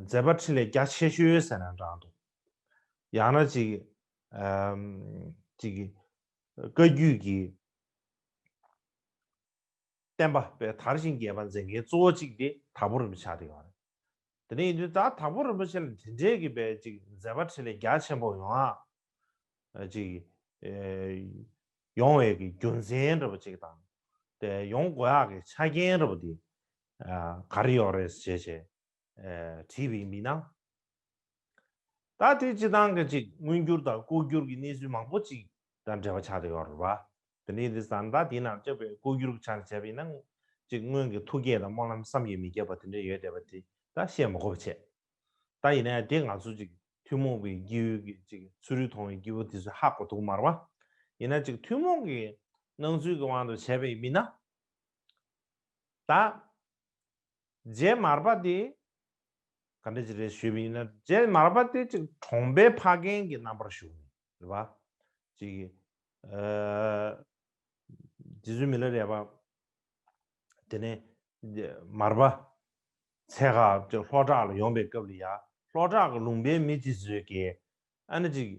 མཛད་པ་ཁྲི་ལས་རྒྱ་ཆེ་ཤོས་ཟེར་ན་འདྲ་འདུག། ཡང་ན་ཅིག། ཅིག། བཀའ་བརྒྱུད་ཀྱི། བསྟན་པ་པའི་དར་ཞིང་རྒྱས་པ་མཛད་མཁན་གཙོ་བོ་གཅིག་དེ་དྭགས་པོ་རིན་པོ་ཆེ་དེ་ཡོང་བ་རེད། དེ་ནས་ཡིན་དུས་ད་དྭགས་པོ་རིན་པོ་ཆེ་ལ་དེ་འདྲའི་གི་བའི་ཅིག་མཛད་པ་ཁྲི་ལས་རྒྱ་ཆེན་པོ་ཡོང་ཨ། ཅིག། ཡོང་བའི་གི་རྒྱུ་མཚན་རེ་བ་ཅིག་དང། དེ་ཡོང་དགོས་ཨ་གི་ཆ་རྐྱེན་རེ་བ་དེ། ག་རེ་ཡོག་རེད་ཟེར་བྱས་བྱས། བྲིས་པའི་མི་སྣ། ད་དེ་སྤྱི་བཏང་གི་ཅིག་མངོན་འགྱུར་དང་ལྐོག་གྱུར་གྱི་གནས་ཚུལ་མང་པོ་ཅིག་དང་འབྲེལ་བ་ཆགས་ཏེ་ཡོད་རེད་པ། དེ་ནས་དེ་བཟའ་ཟླ་དེ་རྣམས་སྤྱོད་པའི་ལྐོག་གྱུར་གྱི་ཆ་ནས་བྱས་པས་ན་ཅིག་སྔོན་གྱི་ཐུགས་བསྐྱེད་དང་སྨོན་ལམ་བསམ་ཡས་མི་ཁྱབ་པ་དེ་འདྲ་ཡོད་བསྡད་པ་དེ་ད་བཤད་མི་གོ་བ་ཆད། ད་ཡིན་ན་དེ་ང་ཚོ་ཅིག་ཐུན་མོང་གི་སྐྱེས་བུ་གྱི་ཅིག་ཚུལ་རིག་མཐོང་བའི་སྐྱེས་བུ་དེ་ཚོས་ཧ་གོ་ཐུག་མར་བ། ཡིན་ན་ཅིག་ཐུན་མོང་གི་སྣང་ཚུལ་གྱི་དབང་དུ་བྱས་པའི་མི་སྣ། ད། རྗེ་མར་པ་དེ། ག་འདྲ་ཅིག་རེད་ཞུས་པ་ཡིན་ན་རྗེ་མར་པ་དེ་ཅིག་གྲོང་པའི་ཕ་རྒན་གྱི་རྣམ་པར་བཞུགས་ནས་རེད་པ། ཅིག། རྗེ་བཙུན་མི་ལ་རས་པ། དེ་ནས། མར་པ། ཚེ་ཁག་ཅིག་ལྷོ་བྲག་ལ་ཡོང་པའི་སྐབས་ལ་ཡ། ལྷོ་བྲག་གི་ལུང་པའི་མི་དེ་ཚོས་ཀྱིས། ཨ་ན་ཅིག།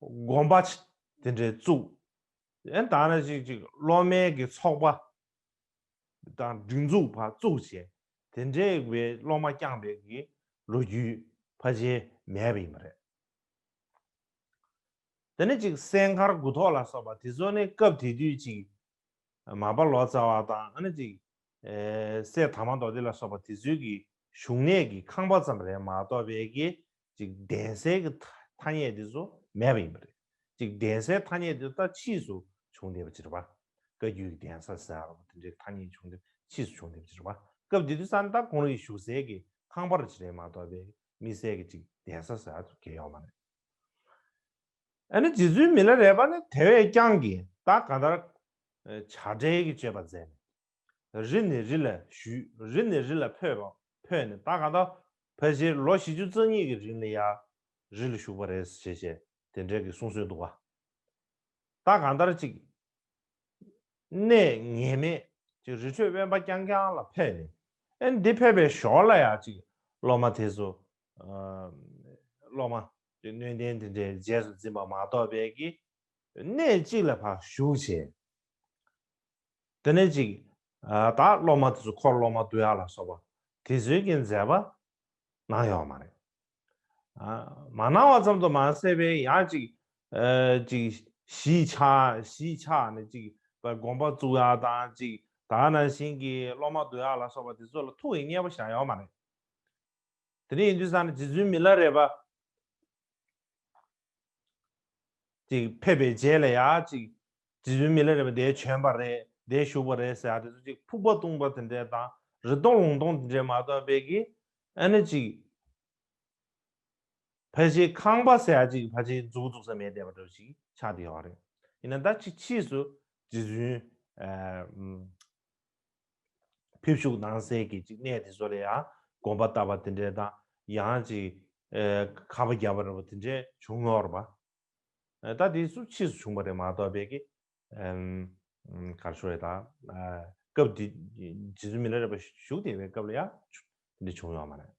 དགོངས་པ། དེ་འདྲའི་གཙུག། ཡང་དག་ན་ཅིག་ཅིག་བློ་དམན་གྱི་ཚོགས་པ། དང་སྒྲིག་འཛུགས་བར་གཙུག་བྱས་དེ་འདྲའི་བའི་བློ་མ་བསྐྱངས་པའི་གི་ལོ་རྒྱུས་ཕ་ཆེན་མེད་པ་ཡིན་པ་རེད། དེ་ནི་ཅིག་གསས་མཁར་དགུ་ཐོག་ལ་སོགས་པ་དེ་ཚོ་ནི་སྐབས་དེ་དུས་ཅིག་མ་པ་ལོ་ཙཱ་བ་དང་ཨ་ནི་ཅིག་གསས་དར་མ་མདོ་སྡེ་ལ་སོགས་པ་དེ་ཚོའི་གི་བཞུགས་གནས་གི་ཁང་པ་ཙམ་རེད་མ་གཏོགས་པའི་གི་ཅིག་གདན་སའི་གི་ཐ་སྙད་དེ་ཚོ་མེད་པ་ཡིན་པ་རེད། ཅིག་གདན་སའི་ཐ་སྙད་དེ་ད་ཕྱིས་སུ་བྱུང་བསྡད་པ་ཅི་རེད་པ། བཀའ་རྒྱུད་གི་གདན་ས་ཟེར་ཡག་ལ་དེ་འདྲའི་ཐ་སྙད་བྱུང་དེ་ཕྱིས་སུ་བྱུང་བསྡད་པ་ཅི་རེད་པ། སྐབས་དེ་དུས་ས་མདའ་གོང་རི་བཞུགས་སའི་གི་ཁང་པར་ཅི་རེད་མ་གཏོགས་པའི་དམིགས་བསལ་གི་ཅིག་གདན་ས་ཟེར་ཡག་དུ་གྱེས་ཡོང་བ་རེད། ཨ་ནི་རྗེ་བཙུན་མི་ལ་རས་པ་ནི་དེ་བས་ཀྱང་གི་ད་ག་ལྟར་བྱ་བྲལ་གི་སྤྱོད་པ་མཛད་ནས་རི་ནས་རི་ལ་བཞུད་རི་ནས་རི་ལ་འཕོས་པ་འཕོས་ནས་ད་ག་ད་ཕལ་ཆེར་ལོ་བཞི་ཅུ་རྩ་གཉིས་ཀྱི་རིང་ལ་ཡར་རི་ལ་བཞུགས་པ་རེད་ཟེར་བྱས་བྱས་དེ་འདྲས་ཀྱི་གསུང་སྲོལ་འདུག་ག་ད་གང་ལྟར་ཅིག། གནས་ངེས་མེད་ཅིག་རི་ཁྲོད་དབེན་པ་རྐྱང་རྐྱང་ལ་ཕེབས་ནས་ཨེ་འདི་ཕེབས་པའི་ཞོར་ལ་ཡང་ཅིག་སློབ་མ་དེ་ཚོ། སློབ་མ། ཀྱི་སྣོད་ལྡན་དེ་འདྲའི་རྗེས་སུ་འཛིན་པ་མ་གཏོགས་པའི་ཀྱི་གནས་གཅིག་ལ་བཞུགས་བྱས། དེ་ནས་ཅིག། ད་སློབ་མ་དེ་ཚོ་འཁོར་སློབ་མ་དུ་ཡ་ལ་སོགས་པ་དེ་ཚོའི་གི་མཛད་པ་གནང་ཡོད་མ་རེད། མ་གནང་བ་ཙམ་དུ་མ་ཟད་པའི་ཡང་ཅིག། ཅིག། གཞིས་ཆགས་གཞིས་ཆགས་ནས་ཅིག་པའི་དགོན་པ་བཙུགས་ཡ་དང་ཅིག་དག་ནང་བཞིན་གི་སློབ་མ་དུ་ཡ་ལ་སོགས་པ་དེ་ཚོ་ལ་ཐུགས་ཀྱི་མཉེས་པ་བཞག་ཡོད་མ་རེད། དེ་རིང་ཡིན་དུས་སང་ནི་རྗེ་བཙུན་མི་ལ་རས་པ། ཅིག་ཕེབས་པའི་རྗེས་ལ་ཡང་ཅིག། རྗེ་བཙུན་མི་ལ་རས་པ་དེའི་བྱོན་པ་རེད་དེ་བཞུགས་པ་རེད་ཟེར་ཡ་དེ་ཚོ་ཅིག་ཕུག་པ་བཏུང་པ་དེ་འདྲས་དང་རི་སྟོང་ལུང་སྟོང་དེ་འདྲས་མ་གཏོགས་དཔེ་གི་ཨ་ནི་ཅིག། ཕལ་ཆེའི་ཁང་པ་ཟེར་ཡ་ཅིག་ཕལ་ཆེའི་མཛུ་གུ་འཛུགས་ས་མེད་དེ་བ་འདྲ་བ་ཅིག་ཆགས་དེ་ཡོད་རེད་ཡིན་ན་ད་ཅིག་ཕྱིས་སུ་རྗེ་བཙུན། ཕེབས་བཞུགས་གནང་སའི་གད་ཅིག་གནས་དེ་ཚོ་ལ་ཡང་དགོངས་པ་བཏབ་པ་དེ་འདྲའི་དང་ཡང་ཅིག་ཁ་བ་བརྒྱབ་པ་རེད་པོ་དེ་འདྲའི་བྱུང་མྱོང་རེད་པ། ད་དེ་ཚོ་ཕྱིས་སུ་བྱུང་བ་རེད་མ་གཏོགས་བས་ཀི། གར་ཤོར་རེད་ད། སྐབས་དེ་རྗེ་བཙུན་མི་ལ་རས་པ་བཞུགས་དེ་བའི་སྐབས་ལ་ཡང་དེ་འདྲ་བྱུང་མྱོང་མ་རེད།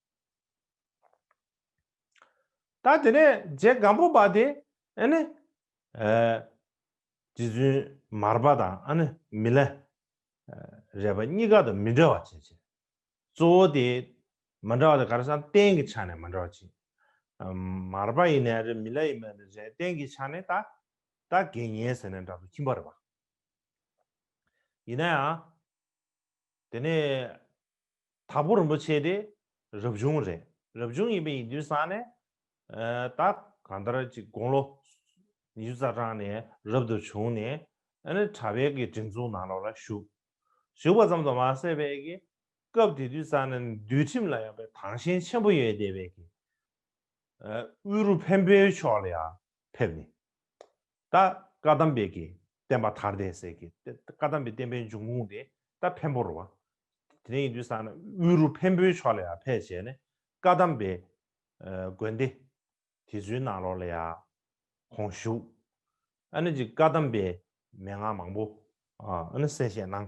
ད་དེ་ནས་རྗེ་སྒམ་པོ་པ་དེ་ནི། རྗེ་བཙུན་མར་པ་དང་ཨ་ནི་མི་ལ། རས་པ་གཉིས་ཀ་དང་མི་འདྲ་བ་བྱེད། གཙོ་བོ་དེ་མ་འདྲ་བ་དེ་ག་རེ་ས་སྟན་གྱི་ཆ་ནས་མ་འདྲ་བ་བྱེད། མར་པ་ཡི་ནས་ཨ་རི་མི་ལ་ཡི་མ་ནི་རས་སྟན་གྱི་ཆ་ནས་ད་ད་དགེ་བསྙེན་ཟེར་ནས་འདྲ་དུ་ཁྱིམ་པ་རི་བ། ཡིན་ན་ཡང། དེ་ནས་དྭགས་པོ་རིན་པོ་ཆེ་དེ་རབ་བྱུང་རེད། རབ་བྱུང་ཡིན་པའི་ཡིན་དུས་སང་ནས་ད་གང་ལྟར་གཅིག་དགུང་ལོ་ཉི་ཤུ་རྩ་གྲངས་ནས་རབ་ཏུ་བྱུང་ནས་ཨནི་གྲྭ་བྷལ་གི་སྒྲིག་འཛུགས་ནང་ལོགས་ལ་ཞུགས། ཞུགས་པ་ཙམ་དུ་མ་ཟད་བྷལ་གི་སྐབས་དེ་དུས་སང་ནས་འདུལ་ཁྲིམས་ལ་ཡང་བས་དྭངས་ཤིང་ཆེན་པོ་ཡོད་དེ་བས་ཀྱི། དབུས་རུ་བྷན་བོད་ཕྱོགས་ལ་ཡང་ཕེབས་ནས། ད་བཀའ་གདམས་པའི་གི་བསྟན་པ་དར་དེ་ཟེར་གི་ད་བཀའ་གདམས་པའི་བསྟན་པའི་འབྱུང་ཁུངས་དེ་ད་བེམ་པོ་རུ་བ། དེ་ནས་ཡིན་དུས་ས་ན་དབུས་རུ་བེམ་པོའི་ཕྱོགས་ལ་ཡང་ཕེབས་བྱས་ནས་བཀའ་གདམས་པའི་དགོན་སྡེ་དེ་ཚོའི་ནང་ལོགས་ལ་ཡང་ཁོང་བཞུགས། ཨ་ནི་ཅིག་བཀའ་གདམས་པའི་མན་ངག་མང་པོ་ཨ་ནི་གསལ་བཤད་གནང།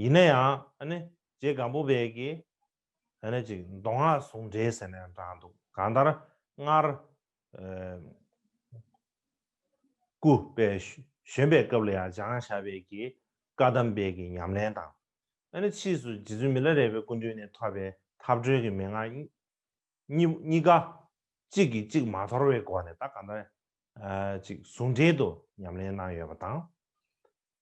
ཡིན་ན་ཡང་ཨ་ཇེ་སྒམ་པོ་བས་ཀྱི་ཨ་ནི་ཅིག་མདོ་སྔགས་ཟུང་འབྲེལ་ཟེར་ནས་དྲངས་འདུག་གང་ལྟར་སྔར་སྐུ་བས་བཞོན་པའི་སྐབས་ལ་ཡང་ལྗང་ཞྭ་བས་ཀྱི་བཀའ་གདམས་སྤེལ་གྱི་ཉམས་ལེན་དང། ཨ་ནི་ཕྱིས་སུ་རྗེ་བཙུན་མི་ལ་རས་པའི་སྐུ་མདུན་ནས་ཐོབ་པའི་ཐབས་གྲོལ་གྱི་མན་ངག་གཉིས་ཀ་གཅིག་གིས་གཅིག་མ་དོར་བའི་སྒོ་ནས་ད་གང་ལྟར་ཅིག་ཟུང་འབྲེལ་དུ་ཉམས་ལེན་གནང་ཡོད་པ་དང།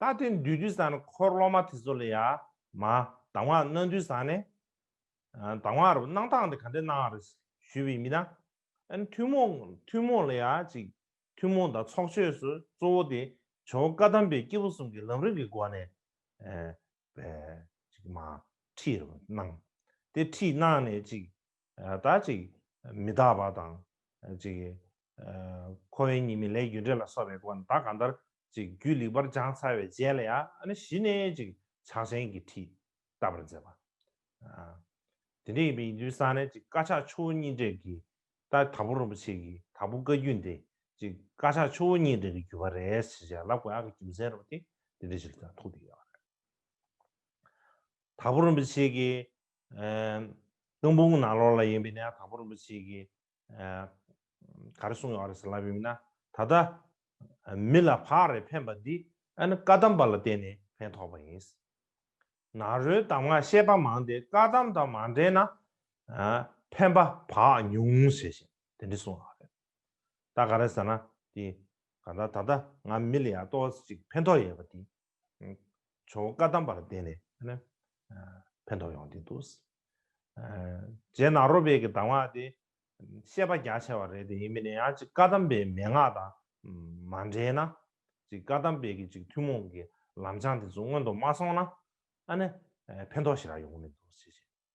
ད་ཐེངས་འདུས་དུས་སང་འཁོར་སློབ་མ་དེ་ཚོ་ལ་ཡ། མ། དང་བ་གནང་དུས་སང་ནས། དང་བ་རུ་གནང་སྟངས་དེ་ག་འདྲས་གནང་རེད། ཞུས་པའི་མི་དང། ཨན་ཐུན་མོང། ཐུན་མོང་ལ་ཡ་ཅིག། ཐུན་མོང་དང་ཚོགས་ཆོས་སུ་གཙོ་བོ་དེ། ཇོ་བོ་བཀའ་གདམས་པའི་སྐྱེས་བུ་གསུམ་གྱི་ལམ་རིམ་གྱི་སྒོ་ནས། ཨན། པའི། ཅིག་མ། ཁྲིད་རུ་གནང། དེ་ཁྲིད་གནང་ནས་ཅིག། ད་ཅིག་མི་རྟག་པ་དང། ཅིག། འཁོར་བའི་གཉིས་མེད་ལས་རྒྱུ་འབྲས་ལ་སོགས་པའི་སྒོ་ནས་ད་གང་ལྟར། ཅིག་རྒྱུད་ལེགས་པར་སྦྱངས་ཚར་བའི་རྗེས་ལ་ཡང་ན་གཞི་ནས་ཅིག་ཕྱག་ཆེན་གྱི་ཁྲིད་བསྟབས་པར་མཛད་པ། དེ་འདྲ་ཡིན་པའི་ཡིན་དུས་སང་ནས་ཅིག་དཀར་ཆག་ཆུ་བོ་གཉིས་འདྲེས་ཀྱི། ད་དྭགས་པོ་རིན་པོ་ཆེ་གི་དྭགས་པོ་བཀའ་བརྒྱུད་འདི་ཅིག་དཀར་ཆག་ཆུ་བོ་གཉིས་འདྲེས་ཀྱི་བརྒྱུད་པ་རེད་ཟེར་ཞེས་ལབ་དགོས་ཨ་ཁུ་རྒྱུ་མཚན་རིན་པོ་ཏེ་འདི་འདྲ་ཞིག་ལ་ཐུག་འདུག་ཡོད་རེད། དྭགས་པོ་རིན་པོ་ཆེ་གི་ཀླུ་འབུམ་གྱི་ནང་ལོགས་ལ་ཡིན་པའི་གནས་ཡང་དག་པ་རིན་པོ་ཆེ་གིས་ག་རེ་གསུངས་ཡོད་རེད་ཟེར་ལབ་ཡོད་མིན་ན། ད་ལྟ་མི་ལ་བག་རེ་འཕེན་པ་འདི་ཨ་ནི་བཀའ་གདམས་པ་ལ་བརྟེན་ནས་ཕན་ཐོགས་པ་ཡིན། ནཱ་རོའི་གདམས་ངག་བཤད་པ་མང་སྟེ་བཀའ་གདམས་དང་མ་འབྲེལ་ན་ཕན་པ་བག་ཉུང་ཟེར་བཞིན་དེ་འདྲ་གསུངས་ཡོད་རེད། ད་ག་རེ་ཟེར་ན་དེ་ག་ད་ད་ལྟ་ང་མི་ལ་ཡར་ལྟོ་བ་ཅིག་ཕན་ཐོགས་ཡོད་པ་དེ་ཆོ་ག་དམ་པར་བསྟེན་ནས་ཕན་ཐོགས་ཡོང་གི་འདུག། རྗེས་ནག་རོ་བེད་ཀྱི་གདམས་ངག་དེ་བཤད་པ་རྒྱ་ཆེ་བ་རེད་དེ་ཡིན་མིན་ནི་ཡང་ཅིག་བཀའ་གདམས་པའི་མན་ངག་དང་མ་འབྲེལ་ན། ཅིག་བཀའ་གདམས་པའི་ཅིག་ཐུན་མོང་གི་ལམ་བྱང་དེ་ཚོ་སྔོན་དུ་མ་སོང་ན་ཨ་ནི་ཕན་ཐོགས་ཞིག་རག་ཡོང་གི་མི་འདུག་ཅེས་བཤད།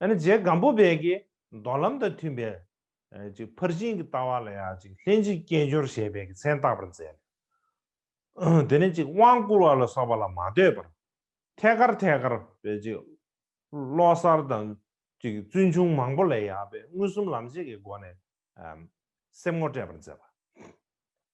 ཨ་ནི་རྗེ་སྒམ་པོ་དཔལ་གྱི་མདོ་ལམ་དང་མཐུན་པའི། ཕར་ཕྱིན་གྱི་ལྟ་བ་ལ་ཡང་ལྷན་ཅིག་སྐྱེས་སྦྱོར་ཞེས་པའི་མཚན་བཏགས་པར་མཛད། དེ་ནས་དབང་བསྐུར་བ་ལ་སོགས་པ་ལ་མ་ལྟོས་པར། ཐད་ཀར་ཐད་ཀར། བློ་གསར་དང། བཙུན་ཆུང་མང་པོ་ལས་ཡག་པའི་མངོན་སུམ་ལམ་བྱེད་ཀྱི་སྒོ་ནས། སེམས་ངོ་སྤྲད་པར་མཛད་པ།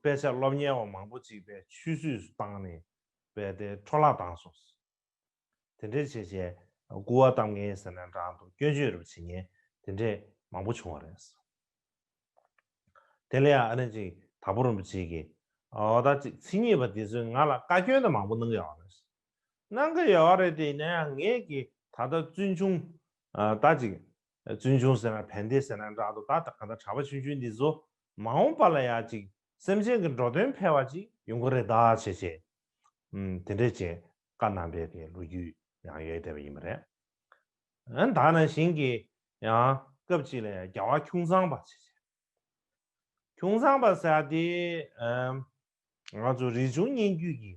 དཔེ་ཆ་སློབ་གཉེར་བ་མང་པོ་གཅིག་པའི་ཆུས་ཚུད་སུ་བཏང་ནས་བས་ཏེ་འཕྲོ་བརླག་བཏང་སོང། དེ་འདྲའི་བྱས་རྗེས་སྐུར་བ་གཏམ་ངན་ཟེར་ནས་འགྲངས་འདུག་སྐྱོན་བརྗོད་རུ་བྱེད་ངན་དེ་འདྲས་མང་པོ་བྱུང་བ་རེད། དེ་ལ་ཡང་ཨ་རན་ཅིག་དྭགས་པོ་རིན་པོ་ཆེ་གིས་ཨོ་ད་ཅིག་ཚིག་ཉེས་པ་དེ་ཚོས་ང་ལ་བཀའ་སྐྱོན་དེ་མང་པོ་གནང་གི་ཡོད་རེད། གནང་གི་ཡོད་རེད་དེ་ཡིན་ན་ཡང་ངེད་ཀྱིས་ད་ལྟ་བཙུན་ཆུང་ད་ཅིག་བཙུན་ཆུང་ཟེར་ན་བན་དེ་ཟེར་ན་འདྲ་དོ་ད་ལྟ་གང་ལྟར་གྲྭ་པ་ཆུང་ཆུང་འདི་ཚོ་མ་འོངས་པ་ལ་ཡང་ཅིག་སེམས་ཅན་གྱི་འགྲོ་དོན་འཕེལ་བ་ཅིག་ཡོང་གི་རེད་དཱ་བྱས་བྱས། དེ་འདྲའི་བྱས་དཀའ་གནང་བས་དེ་ལོ་རྒྱུས་ཡང་ཡོད་བསྡད་པ་ཡིན་པ་རེད། ཡང་དག་ནང་བཞིན་གྱི་ཡང་སྐབས་ཅིག་ལ་ཡང་རྒྱ་བ་ཁྱུང་ཚང་པ་བྱས་བྱས། ཁྱུང་ཚང་པ་ཟེར་བ་དེ། ང་ཚོ་རིག་འབྱུང་སྙན་བརྒྱུད་ཀྱི།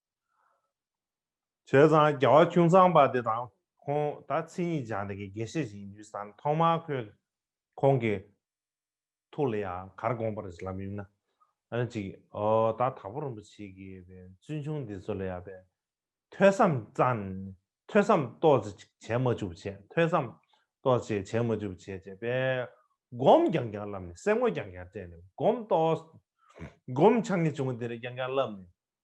བྱས་ཙང་རྒྱལ་བ་ཁྱུང་ཚང་པ་དེ་དང་ཁོང་ད་ཚིག་གཉིས་སྦྱང་འདི་གི་དགེ་བཤེས་ཤིག་ཡིན་དུས་སམ་ཐོག་མར་ཁོས་ཁོང་གི་ཐུགས་ལ་ཡང་གར་དགོངས་པར་ལབ་ཡོད་ན་ཨང་ཅིག་ཨོ་ད་དྭགས་པོ་རིན་པོ་ཆེ་གི་བའི་བཙུན་ཆུང་འདི་ཚོ་ལ་ཡང་བའི་ཐོས་བསམ་ཙང་ཐོས་བསམ་གཏོགས་ཅིག་བྱས་མ་བཅུག་བྱས་ཐོས་བསམ་གཏོགས་ཅིག་བྱས་མ་བཅུག་བྱས་བྱས་པས་སྒོམ་རྐྱང་རྐྱང་བསླབས་ནས་སེམས་ངོ་རྐྱང་རྐྱང་སྤྲད་ནས་སྒོམ་གཏོགས་སྒོམ་ཆག་ངེས་བྱུང་དེར་རྐྱང་རྐྱང་བསླབས་ནས་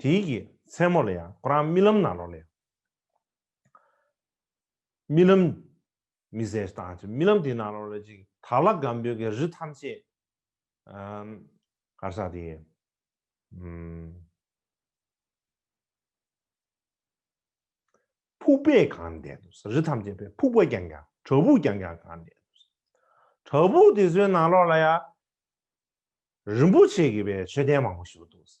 དེའི་གི་མཚན་མོ་ལ་ཡང་ཁོ་རང་རྨི་ལམ་ན་ལོག་ལས། རྨི་ལམ། མི་ཟེར་ཏང་ཅིག་རྨི་ལམ་དེའི་ན་ལོག་ལས་ཅིག་དར་ལ་སྒམ་པོའི་གི་རི་ཐམས་ཅད། གར་ས་དེ། ཕུག་པས་གང་འདས་འདུག་ས་རི་ཐམས་ཅད་པའི་ཕུག་པ་ཀྱང་ཀྱང་བྲག་ཕུག་ཀྱང་ཀྱང་གང་འདས་འདུག་ས། བྲག་ཕུག་དེ་ཚོའི་ན་ལོག་ལ་ཡང། རིན་པོ་ཆེ་གི་པའི་མཆོད་རྟེན་མང་པོ་བཞུགས་འདུག་ས།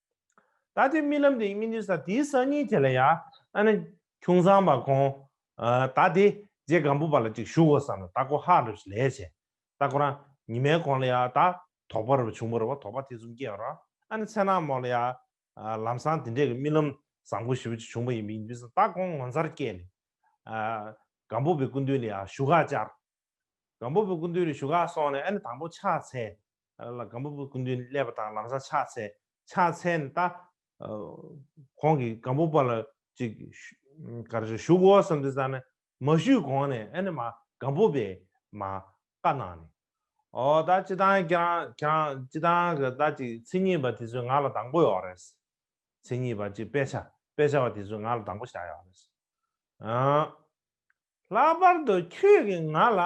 ད་དེ་རྨི་ལམ་དེ་ཡི་སྨིན་དུས་ས་དེའི་སང་ཉིན་དེ་ལ་ཡང། ཁྱུང་ཚང་བ་ཁོང། ད་དེ་རྗེ་སྒམ་པོ་པ་ལ་ཅིག་བཞུགས་འོ་ས་ན་ད་ཁོ་ཧ་རུ་ཞིག་ལས་བྱས། ད་ཁོ་རང་ཉི་མའི་གོང་ལ་ཡང་ད་དོག་པ་རུ་བ་བྱུང་བ་རུ་བ་དོག་པ་དེ་གསུམ་སྐྱེས་རོགས། མཚན་ནག་མོ་ལ་ཡང། ལམ་སང་དེ་འདྲས་ཀྱི་རྨི་ལམ་བཟང་པོ་ཞེ་བོ་ཅིག་བྱུང་བ་ཡི་སྨིན་དུས་ད་ཁོང་ངོ་མཚར་སྐྱེས་ནས། སྒམ་པོ་པའི་སྐུ་མདུན་ལ་ཡང་བཞུགས་ཁ་བཅར། སྒམ་པོ་པོའི་སྐུ་མདུན་རེ་ཞུ་ག་སོང་ནས་ཨ་ནི་དང་པོ་ཕྱག་འཚལ། ལ་སྒམ་པོ་པོའི་སྐུ་མདུན་སླེབས་པ་དང་ལམ་སང་ཕྱག་འཚལ། ཕྱག་འཚལ་ནས་ད། ཁོང་གིས་སྒམ་པོ་པོ་ལ་ཅིག། ག་རེ་རེ་ཞུ་གོ་བསམ་སྟེ་བཙལ་ནས་མ་ཞུས་གོང་ནས་ཨ་ནི་མ་སྒམ་པོ་པོས་མ། བཀའ་གནང་ནས། ཨོ་ད་ཅི་དང་ཁྱེད་རང་ཁྱེད་རང་ཅི་དང་གི་ད་ཅིག་མཚན་ཉིད་པ་དེ་ཚོས་ང་ལ་དང་པོ་ཡོག་རེད། མཚན་ཉིད་པ་ཅིག་དཔེ་ཆ་དཔེ་ཆ་བ་དེ་ཚོས་ང་ལ་དང་པོ་བྱ་ཡོག་རེད། ལྷག་པར་དུ་ཁྱོད་ཀྱིས་ང་ལ།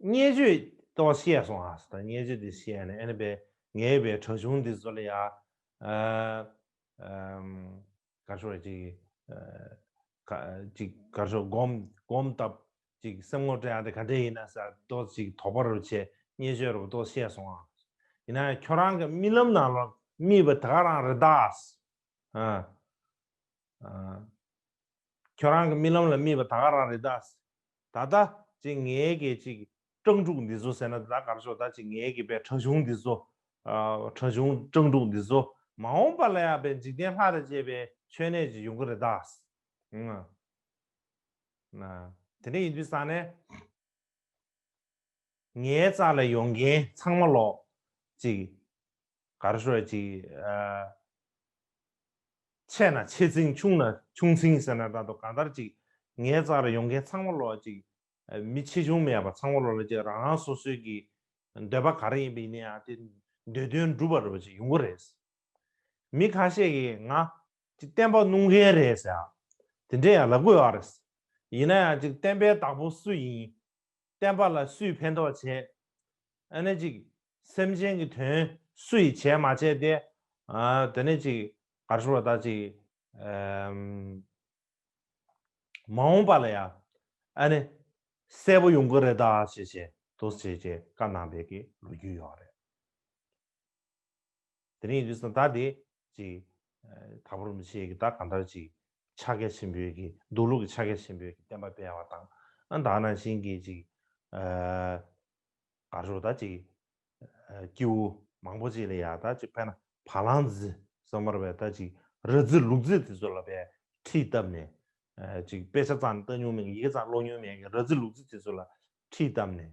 བརྙས་བཅོས་ཏོ་བཤད་སོང་ཨ་སི་ད་བརྙས་བཅོས་དེ་བཤད་ནས་ཨེ་ནི་པེ་ངའི་བའི་གྲོ་ཆུང་དེ་བཟོ་ལ་ཡ། གར་ཤོག་རེ་ཅིག་ཅིག་གར་ཤོག་སྒོམ་སྒོམ་སྟབས་ཅིག་སེམས་ངོ་སྤྲད་ཨ་དེ་ག་འདྲས་ཡིན་ཨ་སི་ཨ་ཏོ་ཅིག་དོགས་པ་རུ་བྱས་བརྙས་བཅོས་རུ་ཏོ་བཤད་སོང་ཨ་སི། ཡིན་ན་ཁྱོད་རང་གི་རྨི་ལམ་ནང་ལ་རྨིས་པ་དེ་ག་རང་རེད་ད་ཨ་སི། ཁྱོད་རང་གི་རྨི་ལམ་ལ་རྨིས་པ་ད་ག་རང་རེད་ད། ད་ད། ཅི་ངའི་གད་ཅིག། སྤྲང་ཕྲུག་འདི་ཚོ་ཟེར་ན་ད་གར་ཤོག་ད་ཅི་ངའི་གད་པའི་ཁྲ་ཆུང་འདི་ཚོ། ཁྲ་ཆུང་སྤྲང་ཕྲུག་འདི་ཚོ། མ་འོངས་པ་ལ་ཡག་པའི་འཇིག་རྟེན་ལྷ་རེ་བཅས་པའི་མཆོད་གནས་ཅིག་ཡོང་གི་རེད་ད། དེ་འདྲ་ཡིན་དུས་བསམ་ནས། ངའི་རྩ་ལ་ཡོང་མཁན་ཚང་མ་ལོག། ཅིག། གར་ཤོད་ཅིག། ཆེ་ན་ཆེ་ཚིང་ཆུང་ན་ཆུང་ཚིང་ཟེར་ན་རྟག་ཏུ་གང་ལྟར་ཅིག་ངའི་རྩར་ཡོང་མཁན་ཚང་མ་ལོག་ཅིག། མི་ཆེ་ཆུང་མེད་པར་ཚང་མ་ལོག་ལ་ཅིག་རང་རང་སོ་སོའི་གི་འདོད་པ་ག་རེ་ཡིན་པ་ཡིན་ན་ཡང་དེ་འདོད་དོན་འགྲུབ་པར་རོ་ཅིག་ཡོང་གི་རེད། མི་ཁ་ཤས་ཀྱིས་ང་ཅིག་བསྟན་པ་སྣུང་མཁན་རེད་ཟེར། དེ་འདྲས་ཡང་ལབ་དགོས་ཨ་རེད། ཡིན་ན་ཡང་ཅིག་བསྟན་པའི་བདག་པོ་སུ་ཡིན། བསྟན་པ་ལ་སུས་ཕན་ཐོགས་བྱེད། ཨ་ནི་ཅིག། སེམས་ཅན་གྱི་དོན་སུ་ཡིས་བྱས་མ་བྱས་ཏེ། དེ་ནས་ཅིག། གར་བཞུགས་པ་དག་ཅིག། མ་འོངས་པ་ལ་ཡང། ཨ་ནི། གསལ་པོ་ཡོང་གི་རེད་ད་ཞེས་བྱས་དོགས་བྱེད་ཀྱི་བཀའ་གནང་བས་ཀྱི་ལོ་རྒྱུས་ཡོད་རེད། དེ་རིང་རིས་ན་ད་དེ། ཅིག། དག་པར་མི་བྱེད་ཀྱི་ད་གང་ལྟར་ཅིག། ཕྱག་རྒྱ་ཆེན་པོའི་ཀྱི་འདུག་ལུགས་ཀྱི་ཕྱག་རྒྱ་ཆེན་པོའི་ཀྱི་བསྟན་པ་སྤེལ་བ་དང། ཨ་དག་ན་བཞིན་གྱི་ཅིག། གར་ཞོག་ད་ཅིག། ཀྱིའུ། མང་པོ་ཅིག་ལ་ཡང་ད་ཅིག་བས་ན་བ་ལང་རྫི། ཟ་མར་བས་ད་ཅིག་ར་རྫི་ལུག་རྫི་དེ་ཚོ་ལ་བས་ཁྲིད་བཏབ་ནས། ཅིག་དཔེ་ཆ་ཙང་ལྟ་ཉུང་མེད་ཀྱི་ཡི་གེ་ཙང་ཀློག་ཉུང་མེད་ཀྱི་ར་རྫི་ལུག་རྫི་དེ་ཚོ་ལ་ཁྲིད་བཏབ་ནས།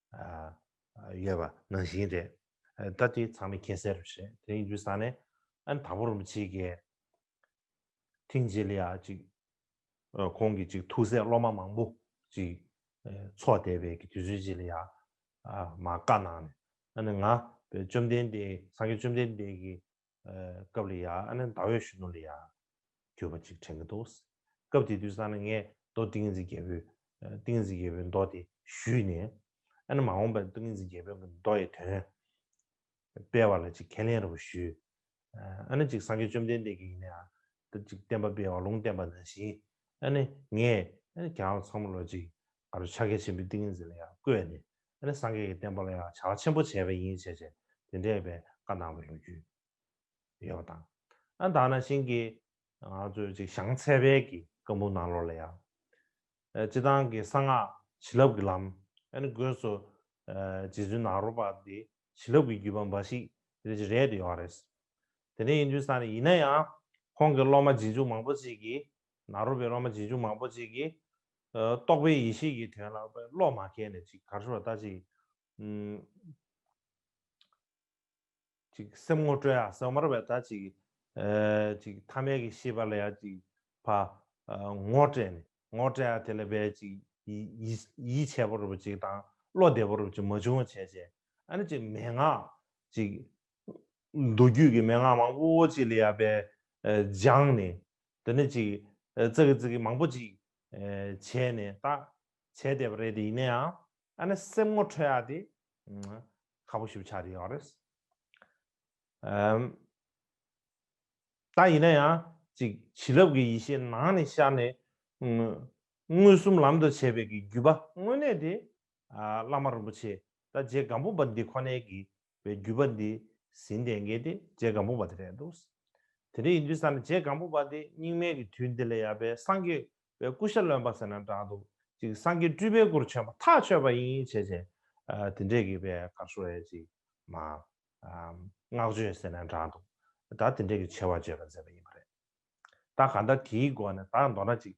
ཡོད་པ་ནང་བཞིན་རེད། ད་ལྟའི་ཚང་མས་མཁྱེན་གསལ་རེད། དེ་ཡིན་དུས་ས་ནས་ཨན་དང་པོ་རིན་པོ་ཆེའི་དགེ་ཐིང་རྗེས་ལེ་ཡག་ཅིག་ཁོང་གི་ཅིག་ཐུགས་སྲས་སློབ་མ་མང་པོ་ཅིག་འཚོགས་བསྡད་པའི་དུས་ཚོད་རྗེས་ལེ་ཡག་མ་བཀའ་གནང་ནས་ཨ་ནི་ང་བཅོམ་ལྡན་འདས་སངས་རྒྱས་བཅོམ་ལྡན་འདས་ཀྱི། སྐབས་ལ་ཡ་ཨ་ནི་ཟླ་འོད་ཞུ་ནོ་ལ་ཡ། གྱུར་པ་ཅིག་དྲན་གྱི་འདུག། སྐབས་དེ་དུས་སང་ལ་ངས་མདོ་ཏིང་ངེ་འཛིན་རྒྱལ་པོའི། ཏིང་ངེ་འཛིན་རྒྱལ་པོའི་མདོ་དེ་ཞུས་ནས། ཨ་ནི་མ་འོངས་པའི་ཏིང་ངེ་འཛིན་རྒྱལ་པོའི་གི་མདོ་ཡི་དོན། སྤེལ་བ་ལ་ཅིག་ཁས་ལེན་ར་བུ་ཞུས། ཨ་ནི་ཅིག་སངས་རྒྱས་བཅོམ་ལྡན་འདས་ཀྱི་ཡིན་ནའ། ཅིག་བསྟན་པ་སྤེལ་བ་ལུང་བསྟན་པ་ནང་བཞིན། ཨ་ནི་ངས། ཨ་ནི་གྱང་བ་ཚང་མ་ལོ་ཅིག། ཨ་རོ་ཕྱག་རྒྱ་ཆེན་པོའི་ཏིང་ངེ་འཛིན་ལ་ཡང་བཀོད་ནས་ཨ་རེ་སངས་རྒྱས་ཀྱི་བསྟན་པ་ལ་ཡང་བྱ་བ་ཆེན་པོ་བྱས་པས་ཡིན་བྱས་བྱས་དེ་འདྲས་པའི་བཀའ་གནང་བའི་ལོ་རྒྱུས་ཡོད་པ་དང། ཨ་དང་ན་ཤིང་གི་ང་ཚོའི་ཅིག་བྱང་ཚད་དཔལ་གྱི་བཀའ་འབུམ་ནང་ལོགས་ལ་ཡང། སྤྱི་དང་གི་གསང་སྔགས་བྱིན་རླབས་ཀྱི་ལམ་ཨ་ནི་དགོས་སོ། རྗེ་བཙུན་ནཱ་རོ་པ་འདི་བྱིན་རླབས་ཀྱི་བརྒྱུད་པ་འབའ་ཞིག་རེད་ཅེས་རེད་དུ་ཡོང་བ་རེད། དེ་འདྲ་ཡིན་དུས་ས་ནས་ཡིན་ན་ཡང་ཁོང་གི་སློབ་མ་རྗེས་འཇུག་མང་པོ་ཅིག་གིས་ནཱ་རོ་པའི་སློབ་མ་རྗེས་འཇུག་མང་པོ་ཅིག་གིས། རྟོགས་པའི་ཡེ་ཤེས་ཀྱི་དོན་ལ་བློ་མ་ཁེལ་ནས་ཅིག་གར་ཤོར་བ་ལྟ་ཅི། ཅིག་སེམས་ངོ་སྤྲོད་ཡང་ཟང་མར་བས་ལྟ་ཅི། ཅིག་ཐ་མལ་གྱི་ཤེས་པ་ལ་ཡང་ཅིག། ངོ་སྤྲད་ནས་ངོ་སྤྲད་ཡང་དེ་ལ་བས་ཅིག། ཡིད་ཆད་པོ་རུ་བ་ཅིག་དང་བློ་བདེ་པོ་རུ་བ་ཅིག་མ་བྱུང་བ་བྱས་བྱས་ཨ་ནི་ཅིག་མན་ངག། ཅིག། མདོ་རྒྱུད་ཀྱི་མན་ངག་མང་པོ་ཅིག་ལ་ཡང་བས་སྦྱངས་ནས། དེ་ནས་ཅིག། ཙི་གི་ཙི་གི་མང་པོ་ཅིག། བྱས་ནས་ལྟ། བྱས་བསྡད་པ་རེད་དེ་ཡིན་ན་ཡང། ཨ་ནི་སེམས་ངོ་འཕྲོད་ཡག་དེ། ཁ་པོ་ཞུ་ཆགས་རེད་ཡོད་རེད། ད་ཡིན་ན་ཡང། ཅིག་བྱིན་རླབས་ཀྱི་ཡེ་ཤེས་ནང་ནས་ཤར་ནས། མངོན་སུམ་ལམ་དུ་བྱེད་པའི་གི་བརྒྱུད་པ་དངོས་གནས་དེ། བླ་མ་རིན་པོ་ཆེ་ད་རྗེ་སྒམ་པོ་པ་འདི་ཁོ་ནའི་གི་བའི་བརྒྱུད་པ་འདི་ཟིན་བསྟན་མཁན་དེ་རྗེ་གང་པོ་པ་དེ་རེད་འདུག། དེ་འདྲ་ཡིན་དུས་སམ་རྗེ་གང་པོ་པ་འདི་སྙིགས་མའི་གི་དུས་འདི་ལས་ཡལ་པའི་སངས་རྒྱས་པའི་སྐུ་ཞབས་ལོན་པ་ཟེར་ན་འདྲ་འདུག་ཅིག་སངས་རྒྱས་སྤྲུལ་པའི་སྐུར་བྱོན་པ་ཐག་ཆོད་པ་ཡིན་བྱས་བྱས། དེ་འདྲས་གི་པའི་གར་སོ་བའི་ཅིག་མ། བསྔགས་བརྗོད་ཟེར་ན་འདྲ་འདུག་ད་དེ་འདྲས་གི་ཆེ་བ་བརྗོད་པ་མཛད་པ་ཡིན་པ་རེད། ད་ག་འདྲ་དེའི་སྒོ་ནས་ད་མདོར་ན་ཅིག།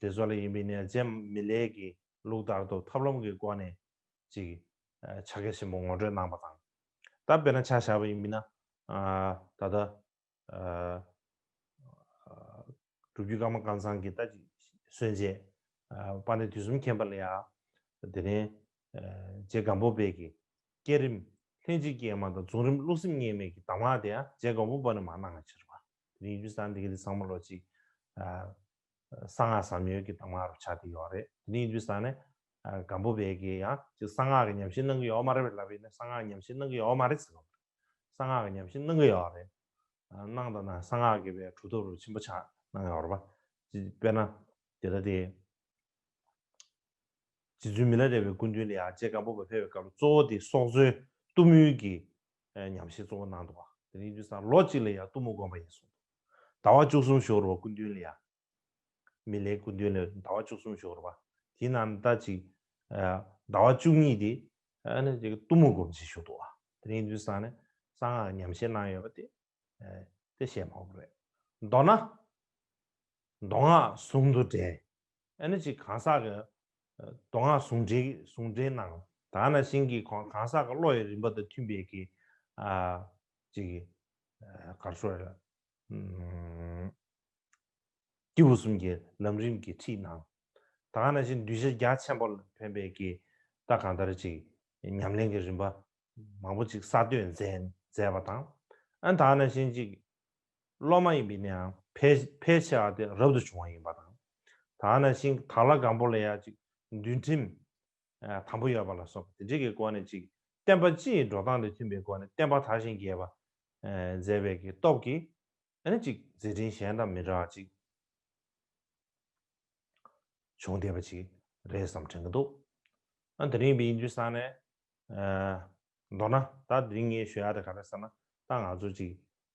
དེ་བཟོ་ལས་ཡིན་པའི་ནས་རྗེ་མི་ལས་ཀྱི་ལུགས་ལྟར་དུ་ཐབས་ལམ་གྱི་སྒོ་ནས་ཅིག་བྱ་དགའ་ཆེན་པོ་ངོ་སྤྲོད་གནང་བ་དང། ད་དཔེར་ན་ཆ་བཞག་པ་ཡིན་པས་ན། ད་ལྟ། སྒྲུབ་བརྒྱུད་ཀརྨ་དཀར་ཚང་གི་རྟ་གཅིག་གསོན་རྗེས། པ་ནི་དུས་གསུམ་མཁྱེན་པ་ལ་ཡ། དེ་ནས། རྗེ་སྒམ་པོ་དཔལ་གྱིས། བསྐྱེད་རིམ། ལྷན་ཅིག་སྐྱེས་མ་དང་རྫོགས་རིམ་བསླུ་སེམས་གཉིས་མེད་ཀྱི་གདམས་ངག་དེ་ཡང་རྗེ་སྒམ་པོ་པ་ནི་མ་གནང་བའི་ཕྱིར། བ་དེ་རིང་ཡུལ་ཙམ་དེ་ག་དེ་ཚང་མ་ལོ་གཅིག། གསང་སྔགས་ཟབ་མྱོས་ཀྱི་གདམས་ངག་རུ་ཆགས་ཀྱི་ཡོད་རེད་དེ་ནི་ཡིན་དུས་སང་ནས་སྒམ་པོ་བས་ཀྱི་ཡང་གཅིག་གསང་སྔགས་ཀྱི་ཉམས་ཞིབ་གནང་གི་ཡོད་མ་རེད་བས་ལབ་ཡིན་ནས་གསང་སྔགས་ཉམས་ཞིབ་གནང་གི་ཡོད་མ་རེད་ཟེར་བ་རེད་གསང་སྔགས་ཀྱི་ཉམས་ཞིབ་གནང་གི་ཡོད་རེད་གནང་ད་ན་གསང་སྔགས་ཀྱི་བས་གྲུབ་ཐོབ་རུ་ཆེན་པོ་ཆགས་གནང་ཡོད་རེད་བ་དཔེར་ན་དེ་ལྟ་སྟེ། རྗེ་བཙུན་མི་ལ་རས་པའི་སྐུ་མདུན་ལ་ཡང་རྗེ་སྒམ་པོ་བ་ཕེབས་པའི་སྐབས་ལ་གཙོ་བོ་དེ་སྲོག་རྩོལ་གཏུམ་མོའི་ཀྱི་ཉམས་བཞེས་གཙོ་བོ་གནང་འདུག་བ་དེ་ནི་ཡིན་དུས་སང་ལོ་གཅིག་ལ་ཡང་གཏུམ་མོ་དགོན་པ་ཡིན་གསུངས་འདུག། ཟླ་བ་བཅུ་གསུམ་ཞོག་རུ་བ་ཀུན་འདུན་ལ་ཡ། མི་ལའི་ཀུན་འདུན་ལས་ཟླ་བ་བཅུ་གསུམ་ཞོག་རུ་བ། དེ་ན་ཟླ་གཅིག། ཟླ་བ་བཅུ་གཉིས་དེ། གཏུམ་མོ་སྒོམ་བྱེད་ཞུགས་འདུག་བ། དེ་རིང་འདུན་སང་ནས་གསང་སྔགས་ཉམས་བཞེས་གནང་ཡོད་པ་དེ། དེ་བཞེས་མ་བོ་རེད། མདོར་ན། མདོ་སྔགས་ཟུང་དུ་འབྲེལ། ཨ་ནི་ཅིག་གང་ཟག་གི། མདོ་སྔགས་ཟུང་འབྲེལ་གྱི་ཟུང་འབྲེལ་གནང། ད་ན་བཞིན་གྱི་གང་ཟག་གི་བློ་ཡི་རིམ་པ་དང་མཐུན་པའི་གྱི། ཅིག། གར་སོགས་ལ། སྐྱེས་བུ་གསུམ་གྱི་ལམ་རིམ་གྱི་ཁྲིད་གནང། ད་ག་ན་བཞིན་གདུལ་བྱ་རྒྱ་ཆེན་པོ་ལ་ཕན་པའི་གི་ལྟ་གང་ལྟར་ཅིག་ཉམས་ལེན་གྱི་རིམ་པ་མང་པོ་ཅིག་གསར་གཏོད་མཛད་པ་དང། ད་ག་ན་བཞིན་ཅིག་སློབ་མ་ཡིན་པའི་ནའང་ཕལ་ཆེ་བ་དེ་རབ་ཏུ་བྱུང་བ་ཡིན་པ་དང། ད་ག་ན་བཞིན་དག་ལ་གང་པོ་ལ་ཡང་ཅིག་འདུལ་ཁྲིམས་དང་པོ་ཡོད་པ་ལ་སོགས་པ་དེ་འབྲེལ་གྱི་སྒོ་ནས་ཅིག་བསྟན་པ་སྤྱིའི་འགྲོ་སྟངས་དང་མཐུན་པའི་སྒོ་ནས་བསྟན་པ་དར་ཞིང་རྒྱས་པར་མཛད་པའི་ཀྱི་སྟོབས་ཀྱིས་ནི་ཅིག་མཛད་འཕྲིན་གཞན་དང་མི་འདྲ་བ་ཅིག་བྱུང་བསྡད་པ་ཅིག་རེད་བསམ་དྲན་གྱི་འདུག་ཨ་དེ་རིང་བིན་འཇུ་ས་ནས་མདོར་ན་ད་དེ་རིང་ངས་ཞུ་ཡག་དེ་ག་རེ་ཟེར་ན་ད་ང་ཚོ་ཅིག་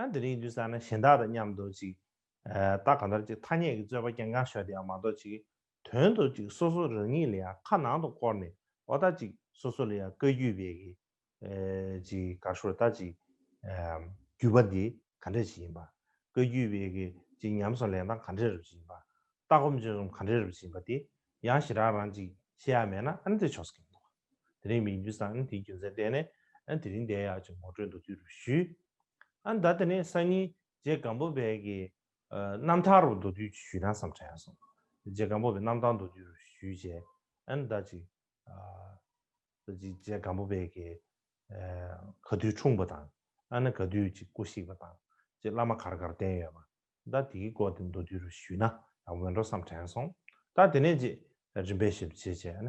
ཨ་འདི་རིང་དུས་སང་ན་གཞན་དག་དང་མཉམ་དུ་ཅིག་ད་གང་ལྟར་ཅིག་ཐ་སྙད་ཀྱི་རྩོད་པ་ཀྱང་འགངས་ཤོར་དེ་ཡང་མ་གཏོགས་ཅིག་དོན་དུ་ཅིག་སོ་སོ་རང་ཉིད་ལ་ཡང་ཁ་ནང་དུ་བསྐོར་ནས་འོ་ད་ཅིག་སོ་སོ་ལ་ཡང་བཀའ་རྒྱུད་བས་ཀྱི་ཅིག་དགའ་ཤོར་ད་ཅིག་རྒྱུད་པ་འདི་ག་འདྲ་ཞིག་ཡིན་པ་བཀའ་རྒྱུད་བས་ཀྱི་ཅིག་ཉམས་སུ་ལེན་སྟངས་ག་འདྲས་རུབ་ཅིག་ཡིན་པ་ལྟ་སྒོམ་སྤྱོད་རྩོམ་ག་འདྲས་རུབ་ཅིག་ཡིན་པ་དེ་ཡང་ཞེ་དྲག་རང་ཅིག་ཤེས་ཡ་མེད་ན་ཨ་འདྲས་ཆོག་ས་ཀྱང་མི་འདུག་དེ་རིང་མིག་འདུན་སང་ཉིན་དེའི་རྒྱུ་མཚན་བལྟས་ནས་ཨ་དེ་རིང་བསྡད་ཡག་ཅེས་ངོ་སྤྲོད་མདོ་དུས་རུ་ཞུས། ཨ་མདའ་དེ་ནས་སང་ཉིན་རྗེ་སྒམ་པོ་བས་ཀྱི་རྣམ་ཐར་རུ་མདོ་དུས་ཞུས་ན་བསམ་དྲན་སོང། རྗེ་སྒམ་པོ་བས་རྣམ་ཐར་མདོ་དུས་རུ་ཞུས་རྗེས་ཨ་མདའ་ཅིག་རྗེ་སྒམ་པོ་བས་ཀྱི་ག་དུས་འཁྲུངས་པ་དང་ཨ་ན་ག་དུས་ཅིག་སྐུ་གཤེགས་པ་དང་རྗེ་བླ་མ་གར་གར་བསྟེན་ཡོད་པ་མདའ་དེའི་སྐོར་དེ་མདོ་དུས་རུ་ཞུས་ན་ཡང་འོས་འགྲོ་བསམ་དྲན་སོང། ད་དེ་ནས་རྗེས་རིམ་པས་ཞིབ་བྱེད་བྱས་ན་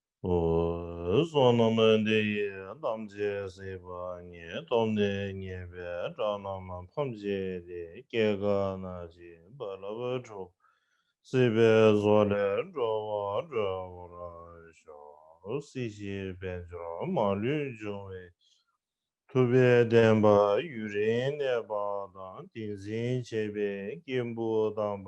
བསོད་ནམས་འདི་ཡིས་དམ་བཅས་སྲིད་པ་ཉིད་སྟོབས་ནི་ཉེས་པའི་དགྲ་རྣམས་ཕམ་བྱས་ཏེ་སྐྱེ་རྒ་ན་འཆི་རྦ་རླབས་འཁྲུགས། སྲིད་པའི་བཟོ་ལས་འགྲོ་བ་སྒྲོལ་བར་ཤོག། སྲིད་ཞིའི་དཔལ་འབྱོར་མ་ལུས་འབྱུང་བའི་ཐུབ་པའི་བདེན་པ་ཡུན་རིང་གནས་པ་དང་ཏིང་འཛིན་བྱེད་པའི་སྐྱེས་བུ་དམ་པ